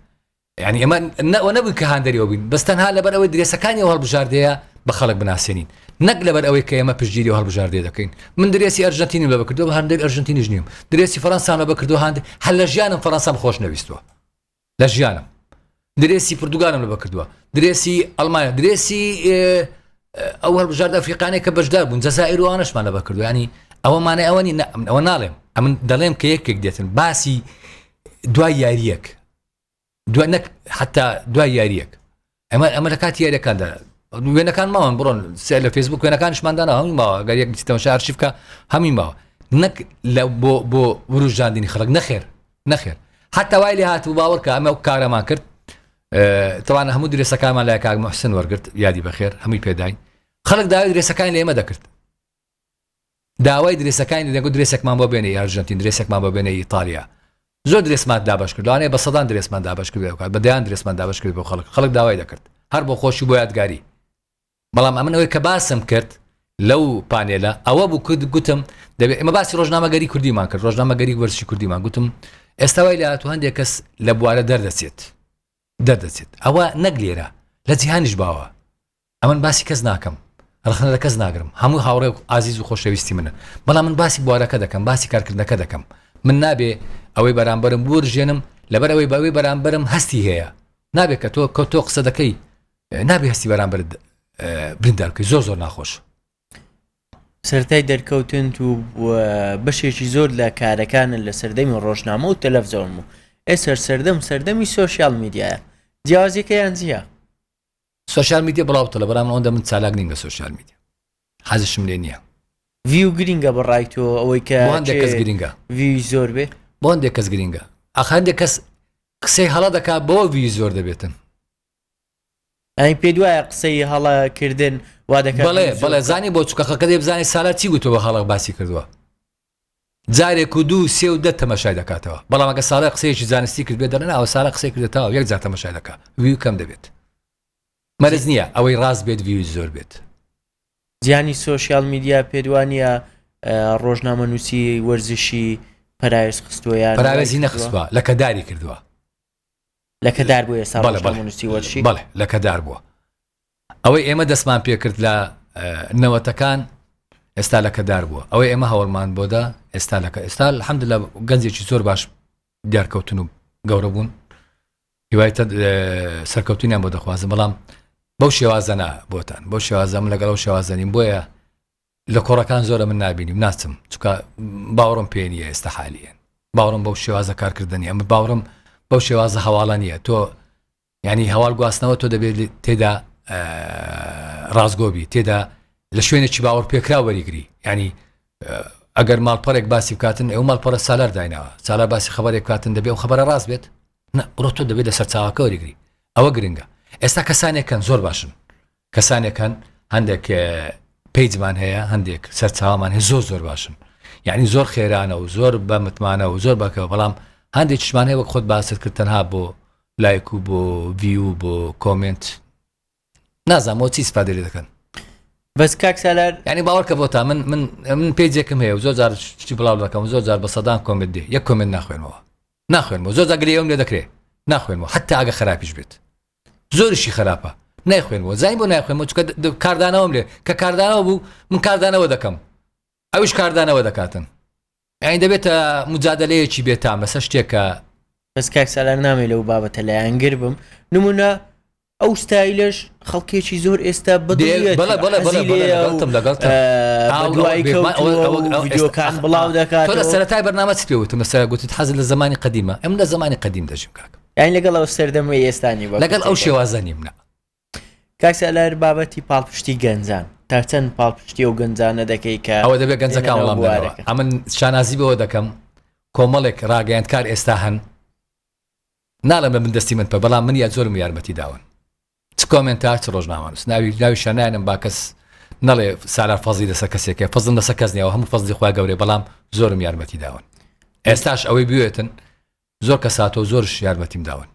یعنی ئەمە نەوە نەبووی کە هاندەریەوە بووین بەس تەنها لەبەر ئەوەی درێسەکانی و هەڵبژاردەیە بە خەڵک بناسیێنین نەک لەبەر ئەوەی کە ئێمە پشتگیری و هەڵبژاردێ دەکەین من درێسی ئەرژەنتینی لە بکردو هەندێک ئەرژەنتینیش نیم درێسی فەرەنسانە بکردو هاند هەل لە ژیانم فەرەنسام خۆش نەویستوە لە ژیانم درێسی پرتگالم لە بەکردووە درێسی ئەلمانیا درێسی ئەو هەڵبژارد ئەفریقانێک کە بەشدار بوون جەزائروانشمان لە بەکردویانی ئەوە مانای ئەوەنی ئەوە ناڵێم ئەمن دەڵێم کە یەکێک دێتن باسی دوای یاریەک دوای نەک حتا دوای یاریەک هەمان ئەمە لە کاتی یاریەکاندا وێنەکان ماوەن بڕۆن سێ لە فێسبوک وێنەکانشماندانا هەمی ماوە گەر یەک بچیتەوە شارشی بکە هەمی ماوە نەک لە بۆ بۆ وروژاندنی خەڵک نەخێر نەخێر حتا وای لێ هاتبوو باوەڕکە ئەمە کارەمان کرد تەوان هەموو درێسەکانمان لای کاک محسن وەرگرت یادی بەخێر هەمووی پێداین خەڵک داوای درێسەکان لێمە دەکرد داوای درێسەکانی دەکەین گوت درێسێکمان بۆ بێنە ئەرژەنتین درێسێکمان بۆ بێنە ئیتالیا زۆر درێسمان دابەش کرد لەوانەیە بە سەدان درێسمان دابەش کرد بکات بە دەیان درێسمان دابەش کرد بۆ خەڵک خەڵک داوای دەکرد هەر بۆ خۆشی بۆ یادگاری بەڵام ئەمن ئەوەی کە باسم کرد لەو پانێلە ئەوە بوو کرد گوتم دەبێت ئمە باسی ڕۆژنامەگەری کوردیمان کرد ڕۆژنامەگەری وەرزشی کوردیمان گوتم ئێستا وای لە هاتو هەندێک کەس لە بوارە دەردەچێت دەردەچێت ئەوە نەک لێرە لە جیهانیش باوە ئەمن باسی کەس ناکەم ڕخنە لە کەس ناگرم هەموو هاوڕێ و ئازیز و خۆشەویستی منن بەڵام من باسی بوارەکە دەکەم باسی کارکردنەکە دەکەم من نابێ ئەوەی بەرامبەرم بورژێنم لەبەر ئەوەی بەوەی بەرامبەرم هەستی هەیە نابێت کە تۆ کە تۆ قسە دەکەی نابێ هەستی بەرامبەر بریندارکەی زۆر زۆر ناخۆش سەرای دەرکەوتن و بەشێکی زۆر لە کارەکانن لە سەردەمی ڕۆژنامە و تەلەفزۆن و ئێسەر سەردەم سەردەمی سوۆسیال میدیایە جیازەکەیان جیە سۆشیال میدیا بڵاو تڵە برام ئەوەندە من چالاک نیم لە سۆشیال میدیا حەزشم لێ نییە. ڤیو گرینگە بە ڕای تۆ ئەوەی کە بۆ هەندێک کەس گرینگە ڤیوی زۆر بێ بۆ هەندێک کەس گرینگە ئاخ هەندێک کەس قسەی هەڵە دەکات بۆ ڤیوی زۆر دەبێتن ئەی پێ دوایە قسەی هەڵە کردن وا دەکات بەڵێ بەڵێ زانی بۆ چکەخەکە دەی بزانانی سالا چی گوتەوە هەڵک باسی کردووە جارێک و دوو و سێ و دە تەمەشای دەکاتەوە، بەڵام ئەگەر سارا قسەیەکی زانستی کردبێت دەڵێن ئاوە سارا قسەی کردە تاو یەک جار تەمەشای دەکا ڤیو کەم دەبێت مەرج نییە ئەوەی ڕاست بێت ڤیوی زۆر بێت. زیانی سۆشیال میدیا پێت وانیە ڕۆژنامەنووسی وەرزشی پەراوێز خستووە یان پەراوێزی نەخستووە لەکەداری کردووە. لە کەدار بوو ئێستا بەڵێ ڕۆژنامە بەڵێ نووسیوە چی؟ بەڵێ لە کەدار بووە ئەوەی ئێمە دەستمان پێکرد لە نەوەتەکان ئێستا لە کەدار بووە ئەوەی ئێمە هەوڵمان بۆدا ئێستا لەکە ئێستا الحمد لە گەنجێکی زۆر باش دیارکەوتن و گەورە بوون هیوای تە- اه، سەرکەوتنیان بۆ دەخوازم بەڵام بەو شێوازەنا بۆتان بەو شێوازەم لەگەڵ ئەو شێوازەنیم بۆیە لە کۆڕەکان زۆرە من نابینیم ناچم چکە باوەڕم پێ نیە ئێستا حالیەن باوەڕم بەو شێوازە کارکردنی ئەمە باوەڕم بەو شێوازە هەواڵە نیە تۆ ینی هەواڵ گواستنەوە تۆ دەبێت تێدا ڕاستگۆبی تێدا لە شوێنێکی باوەڕ پێکرا وەریگری ینی ئەگەر ماڵپەرێک باسی بکاتن ئەو ماڵپەرە سالار دایناوە سالا باسی خبرێک کاتن دەبێ و خبرە ڕاست بێت ڕۆ تۆ دەبێت لە سەرچاوەکە وەریگری ئەوە گرنگە ئێستا کەسانێکەن زۆر باشن کەسانێک هەن هەندێک پیجمان هەیە هەندێک سەرچاومان هەیە زۆر زۆر باشن یعنی زۆر خێرانە و زۆر بە متمانە و زۆر بەکەوە بەڵام هەندێک شمان هەیە وەک خۆت باست کرد تەنها بۆ لایک و بۆ ویو بۆ کۆمنت نازانەوە چی سپادێ دەکەن بەس کاک سالار ینی باوەڕکە بۆ تا من من من پێجێکم هەیە زۆر جار شتی بڵاو دەکەم زۆر جار بە سەدان کۆمنت دێ یەک کۆمنت ناخوێنەوە ناخوێنەوە زۆر زاگرەوە لێ دەکرێت ناخوێنەوە حتا ئەگە خراپیش بێت زۆریشی خەراپە نایخوێنەوە زای بۆ نایخوێنەوە چکە کاردانەوەم لێ کە کاردانەوە بوو من کاردانەوە دەکەم ئەوش کاردانەوە دەکاتن ئەین دەبێتە مجادلەیەکی بێتام لەسەر شتێکە بەس کاک سالار نامێ لەو بابەتە لایەنگر بم نمونە ئەو ستایلش خەڵکێکی زۆر ئێستا بەدوایکەکان بڵاو دەکات سەرای بەنامە پێوتم لەسەر گوتت حەز لە زمانی قدیمە ئەم لە زمانی قدیم دەژم کاکە یانی لەگەڵ ئەو سەردەمەی ئێستا نی وەک لەگەڵ ئەو تێگەی. شێوازە نیم نا کاک سالار بابەتی پاڵپشتی گەنجان تا چەند پاڵپشتی و گەنجانە دەکەی کە ئەوە دەبێت گەنجەکان دێنەرەوە وڵام دەنەوە بوارەکە. ئەمن شانازی بەوە دەکەم کۆمەڵێک ڕاگەیاندکار ئێستا هەن ناڵم لە من دەستی من پێ بەڵام من یا زۆرم یارمەتی داون چ کۆمنت تا چ ڕۆژنامەنووس ناوی ناوی شانایانم با کەس نەڵێ سارا فەزی لەسەر کەسێکە فەزم لەسەر کەس نیەوە هەموو فەزلی خوا گەورەی بەڵام زۆرم یارمەتی داون ئێستاش ئەوەی بوێتن زۆر کەساتۆ زۆرش یارمەتیم داون.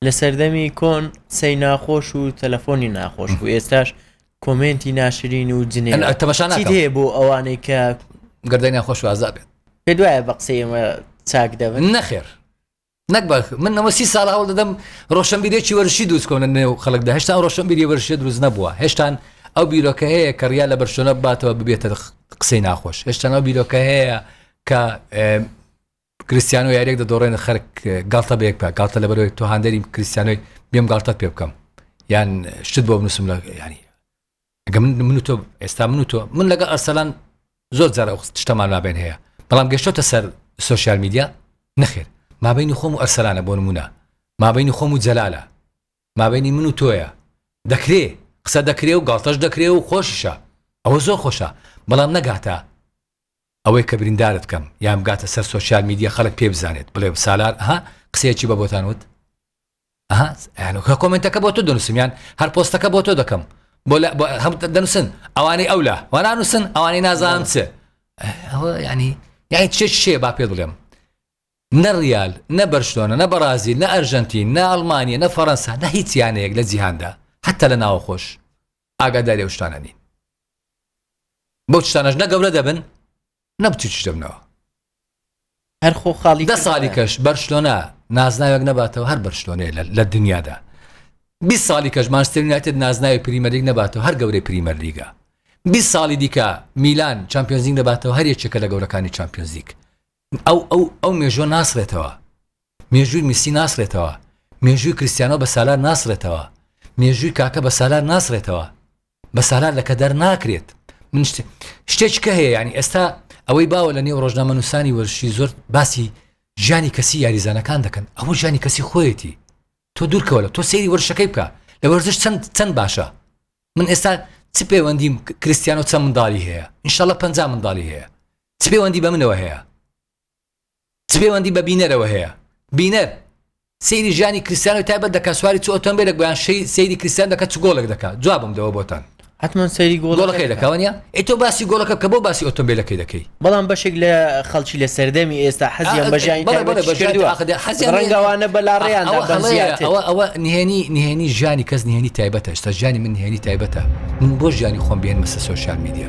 لە سەردەمی کۆن قسەی ناخۆش و تەلەفۆنی ناخۆش بوو ئێستاش کۆمێنتی ناشرین و جنێ ئەن تەماشا چیت ناکەم هەیە بۆ ئەوانەی کە گردەی ناخۆش وازا بێت پێت وایە بە قسەی ئێمە چاک دەبن نەخێر نەک بە من ئەمە سی ساڵ هەوڵ دەدەم ڕۆشنبیرێکی وەرشی دروست کۆنە نێو خەڵکدا هێشتا ئەو ڕۆشنبیری وەرشێ دروست نەبووە هێشتان ئەو بیرۆکە هەیە کە ڕیا لە بەرشۆنە باتەوە ببێتە قسەی ناخۆش هێشتان ئەو بیرۆکە هەیە کە ئێ، کریستیانۆ یاریەک دەدۆڕێنێت خەرک گاڵتە بە یەک بکە گاڵتە لەبەرەوەی تۆ هاندەری کریستیانۆی بێم گاڵتەت پێ بکەم یان شتت بۆ بنووسم لە ینی ئەگە من من و تۆ ئێستا من و تۆ من لەگە ئەرسەلان زۆر جارە شتەمان مابێن هەیە بەڵام گەشتۆتە سەر سوسیال میدیا نەخێر مابینی خۆم و ئەرسەلانە بۆ نمونە مابینی خۆم و جەلالە مابینی من و تۆیە دەکرێ قسە دەکرێ و گاڵتەش دەکرێ و خۆشیشە ئەوە زۆر خۆشە بەڵام نەگاتە ئەوەی کە بریندارت کەم یان بگاتە سەر سۆشیال میدیا خەلک پێ بزانێت بڵێ سالار ئەها قسەیەکی بە بۆتان وت ئەها یانو کە کۆمنتەکە بۆ تۆ دەنووسم یان هەر پۆستەکە بۆ تۆ دەکەم بۆ لە بۆ هەم دەنووسن ئەوانەی ئەو لە وانانووسن ئەوانەی نازان چ ئەوە ینی یانی چێ شێ با پێ بڵێم نە ڕیال نە بەرشلۆنە نە بەڕازیل نە ئەرژەنتین نە ئەڵمانیا نە فەڕەنسا نە هیچ یانەیەک لە جیهاندا حتا لە ناوەخۆش ئاگاداری ئەو شتانە نین بەو شتانەش نە گەورە دەبن نە بچووکیش دەبنەوە هەر خۆ خاڵی دە ساڵی کەش بەرشلۆنە نازناوێک نەباتەوە هەر بەرشلۆنەیە لە دنیادا بی ساڵی کەش مانستر یونایتد نازناوی پریمەریک نەباتەوە هەر گەورەی پریمەر لیگە بی ساڵی دیکە میلان چمپیۆنزیک نەباتەوە هەر یەکێکە لە گەورەکانی چمپیۆنزیک ئەو ئەو ئەو مێژوە ناسڕێتەوە، مێژووی میسی ناسڕێتەوە، مێژووی کریستیانۆ بە سالار ناسڕێتەوە، مێژووی کاکە بە سالار ناسڕێتەوە، بە سالار لەکەدار ناکرێت. من شت شتێک کە هەیە یانی ئێستا ئەوەی باوە لە نێو ڕۆژنامەنووسانی وەرزشی زۆر باسی ژیانی کەسی یاریزانەکان دەکەن، ئەوە ژیانی کەسی خۆیەتی، تۆ دوورکەوە لە تۆ سەیری وەرزشەکەی بکە لە وەرزش چەند چەند باشە، من ئێستا چ پەیوەندیم کریستیانۆ چەند منداڵی هەیە، انشاللە پەنجا منداڵی هەیە، چ پێوەندی بە منەوە هەیە؟ چ پێوەندی بە بینەرەوە هەیە؟ بینەر سەیری ژیانی کریستیانۆی تایبەت دەکات، سواری چ ئۆتۆمبێلێک بوو یان سەیری کریستیان دەکات چ گۆڵێک دەکات؟ جوابم دەوە بۆتان. حەتمەن سەیری گۆڵەکەی دەکات. گۆڵەکەی دەکات، وانییە؟ ئەی تۆ باسی گۆڵەکە بکە، بۆ باسی ئۆتۆمبێلەکەی دەکەی؟ بەڵام بەشێک لە خەڵکی لە سەردەمی ئێستا حەزیان بە ژیانی تایبەتیش کردووە. بەڵێ، بەڵێ، حەزیان بە ژیانی تایبەتیش کردووە. ڕەنگە ئەوانە بەلاڕێیاندا بن زیاتر. ئەوە، ئەوە، ئەوە نهێنی، نهێنی ژیانی کەس نهێنی تایبەتە، ئێستا ژیانی من نهێنی تایبەتە. من بۆ ژیانی خۆم بهێنمە سەر سۆشیال میدیا؟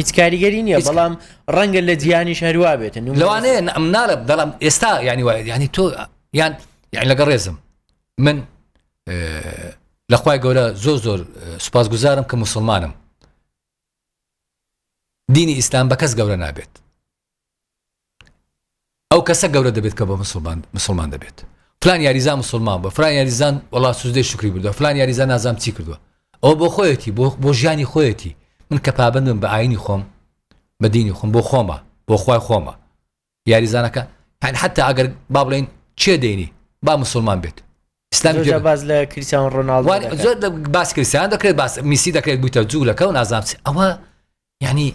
هیچ کاریگەری نییە هیچ بەڵام ڕەنگە لە جیهانیش هەروا بێت نمونە لەوانەیە ن- ئەم ناڵە بەڵام ئێستا ینی وایە ینی تۆ یان یان لەگە ڕێزم من اه، لە خوای گەورە زۆر زۆر اه، سوپاسگوزارم کە مسلمانم دینی ئیسلام بە کەس گەورە نابێت ئەو کەسە گەورە دەبێت کە بە مسلمان مسلمان دەبێت فلان یاریزان مسلمان بە فلان یاریزان وڵا سوزدەی شکری بردو فلان یاریزان نازام چی کردووە ئەو بۆ خۆیەتی بۆ بۆ ژیانی خۆیەتی من کە پابندم بە ئاینی خۆم بە دینی خۆم بۆ خۆمە بۆ خی خۆمە یاریزانەکە هەن حتا ئەگەر با بڵین چێ دەینی با مسلمان بێت ئسلام باز لە کریسیان ڕۆناڵ زۆر باس کریسیان دەکرێت باس میسی دەکرێت بوویتە جوولەکە و نازانچ ئەوە یانی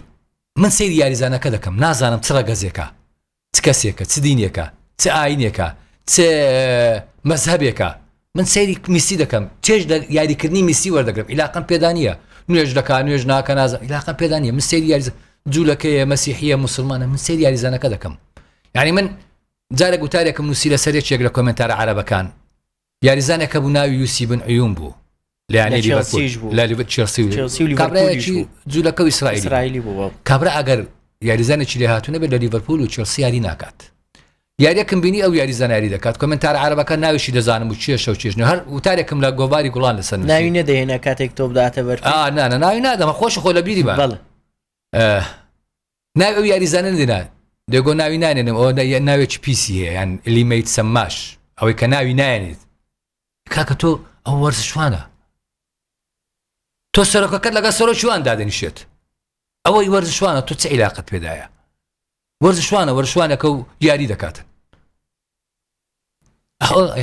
من سەیری یاریزانەکە دەکەم نازانم چ ڕەگەزێکە چ کەسێکە چ دینێکە چ ئاینێکە چ مەذهبێکە من سەیری میسی دەکەم چێژ لە یاریکردنی میسی وەردەگرم عیلاقم پێدانە نوێژ دەکا نوێژ ناکە نازم عیلاقە پێدانە من سەیری یاریز جوولەکەیە مەسیحە مسلمانە من سەیری یاریزانەکە دەکەم یعنی من جارە گوتارێکم نووسی لە سەرێکێک لە کۆمنتارە عربەکان یاریزانێک هەبوو ناوی یوسی بن عیون بوو لەیانی لیڤەرپولیش بوو لە لیڤەر چێڵسی و کابرایەکی جوولەکە و ئیسرائیلی بوو کابرا ئەگەر یاریزانێکی لێ هاتوونە بێت لە لیڤەرپول و چێڵسی یاری ناکات یاریەکم بینی ئەو یاری زانیاری دەکات کمنتار عربەکە ناویشی دەزانم و چێشە و چێژنە هەر وتارێکم لە گۆواری گوڵان لەسەر ناوی نەدەێنە کاتێک تۆ بداتە بەر ناوی نادەمە خۆش خۆ لە بیری بەڵ ناوی ئەو یاریزانە دێنا دێگۆ ناوی نانێنم ئەوە ناوێکی پیسی هەیە یان لیمەیت سەماش ئەوەی کە ناوی نایێنێت کاکە تۆ ئەو وەرزشوانە تۆ سەرۆکەکەت لەگە سەرۆکیوان دادەنیشێت ئەوەی وەرزشوانە تۆ چ عیلاقت پێدایە وەرزشوانە وەرشوانەکە و یاری دەکاتن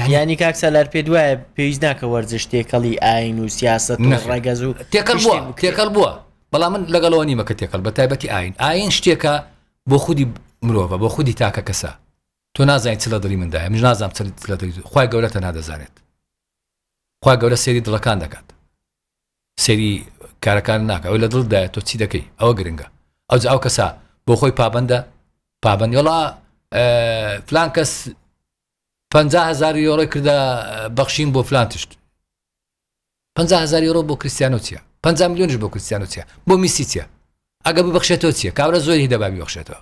یانی کاک سالار پێ دوایە پێویست ناکە وەرزش تێکەڵی ئاین و سیاست ڕگەز و تێکەڵ بووە تێکەڵ بووە بەڵام من لەگەڵەوە نیمە کە تێکەڵ بە تایبەتی ئاین ئاین شتێکە بۆ خودی مرۆڤە بۆ خودی تاکە کەسە تۆ نازای چ لە دڵی مندای من نازام چ لە دڵی خخوای گەورەتە نادەزانێت خخوای گەورە سێری دڵەکان دەکات سەیری کارەکانت ناکە ئەوەی لە دڵت دایە تۆ چی دەکەی ئەوە گرنگە ئەوجا ئەو کەسە بۆ خۆی پابەندە پابەندی وڵا فلان کەس پ هزار یۆڕۆی کردە بەخشین بۆ فلان تشت پ هزار یۆرۆ بۆ کریسیانۆ چیە پ میلیۆنش بۆ کریسیانۆ چیە بۆ میسی چیە ئەگە ببخشێتەوە چیە کابرا زۆری دەبابی بخشێتەوە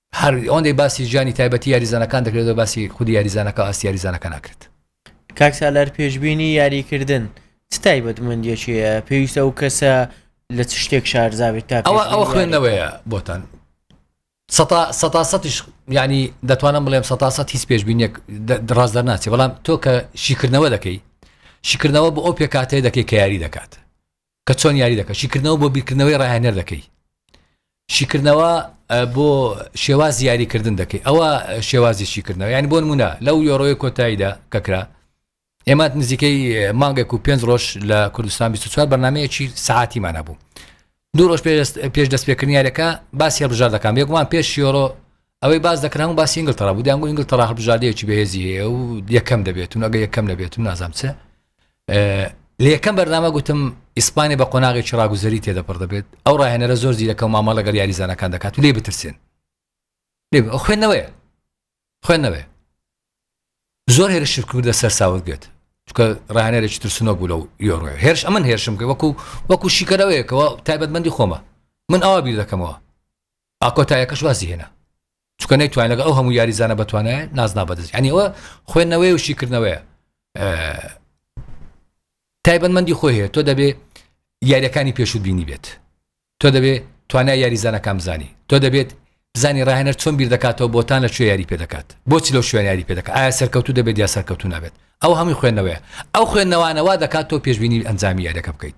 هەر ئەوەندەی باسی ژیانی تایبەتی یاریزانەکان دەکرێت و باسی خودی یاریزانەکە و ئاستی یاریزانەکە ناکرێت. کاک سالار پێشبینی یاریکردن چ تایبەتمەندیەکی هەیە پێویستە ئەو کەسە لە چ شتێک شارزابێت تا ئەوە ئەوە خوێندنەوەیە بۆتان سەتا سەتیش ینی دەتوانم بڵێم سەتا سە هیچ پێشببینێک دڕاز دەرناچێ بەڵام تۆ کە شیکردنەوە دەکەی شیکردنەوە بۆ ئەو پێکاتەیە دەکەی کە یاری دەکات کە چۆن یاری دەکەن شیکردنەوە بۆ بیرکردنەوەی ڕاهێنەر دەکەی شیکردنەوە بۆ شێواز یاریکردن دەکەی ئەوە شێوازی شیکردنەوە یعنی بۆ نمونە لەو یۆڕۆی کۆتاییدا کەکرا ئێمە نزیکەی مانگێک و پێنج ڕۆژ لە کوردستان 24 بەنامەیەکی سعاتیمانە بوو دوو ڕۆژ پێش دەست پێکردنیارەکە باسی هەبژاردەکان بێگومان پێش یۆرۆ ئەوەی باس دەکرا هەموو باسی ئینگلتەڕا بوو، دەیانگوت ئینگلتەڕا هەڵبژاردەیەکی بەهێزی هەیە و یەکەم دەبێت و ئەگەر یەکەم نەبێت و نازانم چ لە یەکەم بەرنامە گوتم ئیسپانی بە قۆناغێکی ڕاگوزەری تێدەپڕ دەبێت ئەو ڕاهێنەرە زۆر زیرەکە و مامەڵە لەگەڵ یاریزانەکان دەکات و لێ بترسێن خوێندنەوەیە خوێندنەوەێ زۆر هێرشر کردە سەر ساوت بێت چکە ڕانێرێکی ترسنۆ بوو لەو یۆڕۆ هێرش ئەمن هێرشم کرد وەکو وەکو شیکەرەوەیەکەوە تایبەتمەندی خۆمە من ئاوا بیر دەکەمەوە ئا کۆتایەکەش وازی هێنا چکە نەیتوان لەگە ئەو هەموو یاریزانە بەتوانایە نازنا بەدەست ئەنیەوە خوێندنەوەی و شیکردنەوەیە تایبەتمەندی خۆی هەیە تۆ دەبێ یاریەکانی پێشوو بینی بێت تۆ دەبێ توانای یاریزانەکان بزانی تۆ دەبێت بزانی ڕاهێنەر چۆن بیر دەکاتەوە بۆتان لە کوێ یاری پێ دەکات بۆچی لەو شوێن یاری پێ دەکات ئایا سەرکەوتو دەبێت یا سەرکەوتو نابێت ئەو هەمووی خوێندنەوەیە ئەو خوێندنەوانەوە دەکات تۆ پێشببینی ئەنجامی یاریەکە بکەیت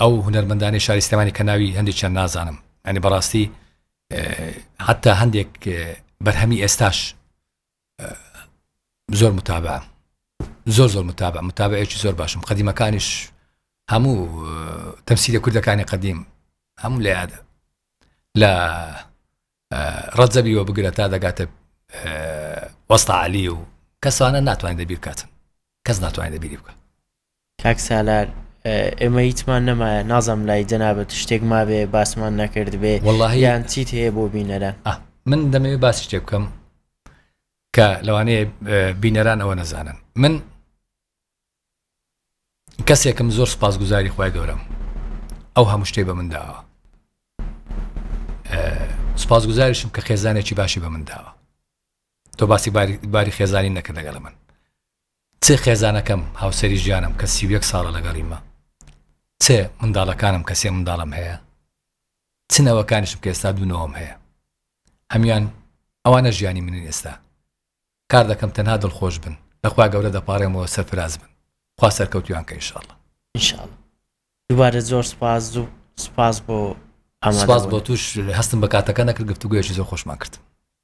ئەو هونەرمەندانی شاری سلێمانی کە ناوی هەندێکیان نازانم ئەنی بەڕاستی حتا هەندێک بەرهەمی ئێستاش زۆر متابە زۆر زۆر متابە متابەیەکی زۆر باشم قدیمەکانیش هەموو تەمسیلە کوردەکانی قدیم هەموو لە یادە لە ڕەجەبی وە بگرە تا دەگاتە وەستا علی و کەسانە ناتوانین دەبیر کاتن کەس ناتوانین دەبیری بکە کاک سالار ئێمە هیچمان نەمایە نازم لای جەنابەت شتێک مابێ باسمان نەکرد بێ وڵیان چیت هەیە بۆ بینەرە من دەمەوێت باس شتێ بکەم کە لەوانەیە بینەران ئەوە نەزانن من کەسێکم زۆر سپاس گوزاری خخوای گەورەم ئەو هەموو شتێ بە من داوە سپاس گوزاریشم کە خێزانێکی باشی بە من داوە تۆ باسی باری خێزانی نەکە دەگەڵ من چ خێزانەکەم هاوسری ژیانم کە سیوێک ساڵە لەگەڵیمە چ منداڵەکانم کە سێ منداڵم هەیە چنەوەکانیشم کە ئێستا دوونەوەم هەیە هەمان ئەوانە ژیانی منین ئێستا کار دەکەم تەنها دڵخۆش بن لە خوا گەورە دەپاڕێمەوە سەرفراز بن خوا سەرکەوتویان کە انشاللە. ان شاء اللە دووبارە زۆر سوپاس زوو سوپاس بۆ ئامادە سوپاس بۆ بوونت توش هەستم بە کاتەکە نەکرد گفتوگۆیەکی زۆر خۆشمان کرد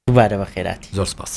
دووبارە بە خێراتی زۆر سوپاس.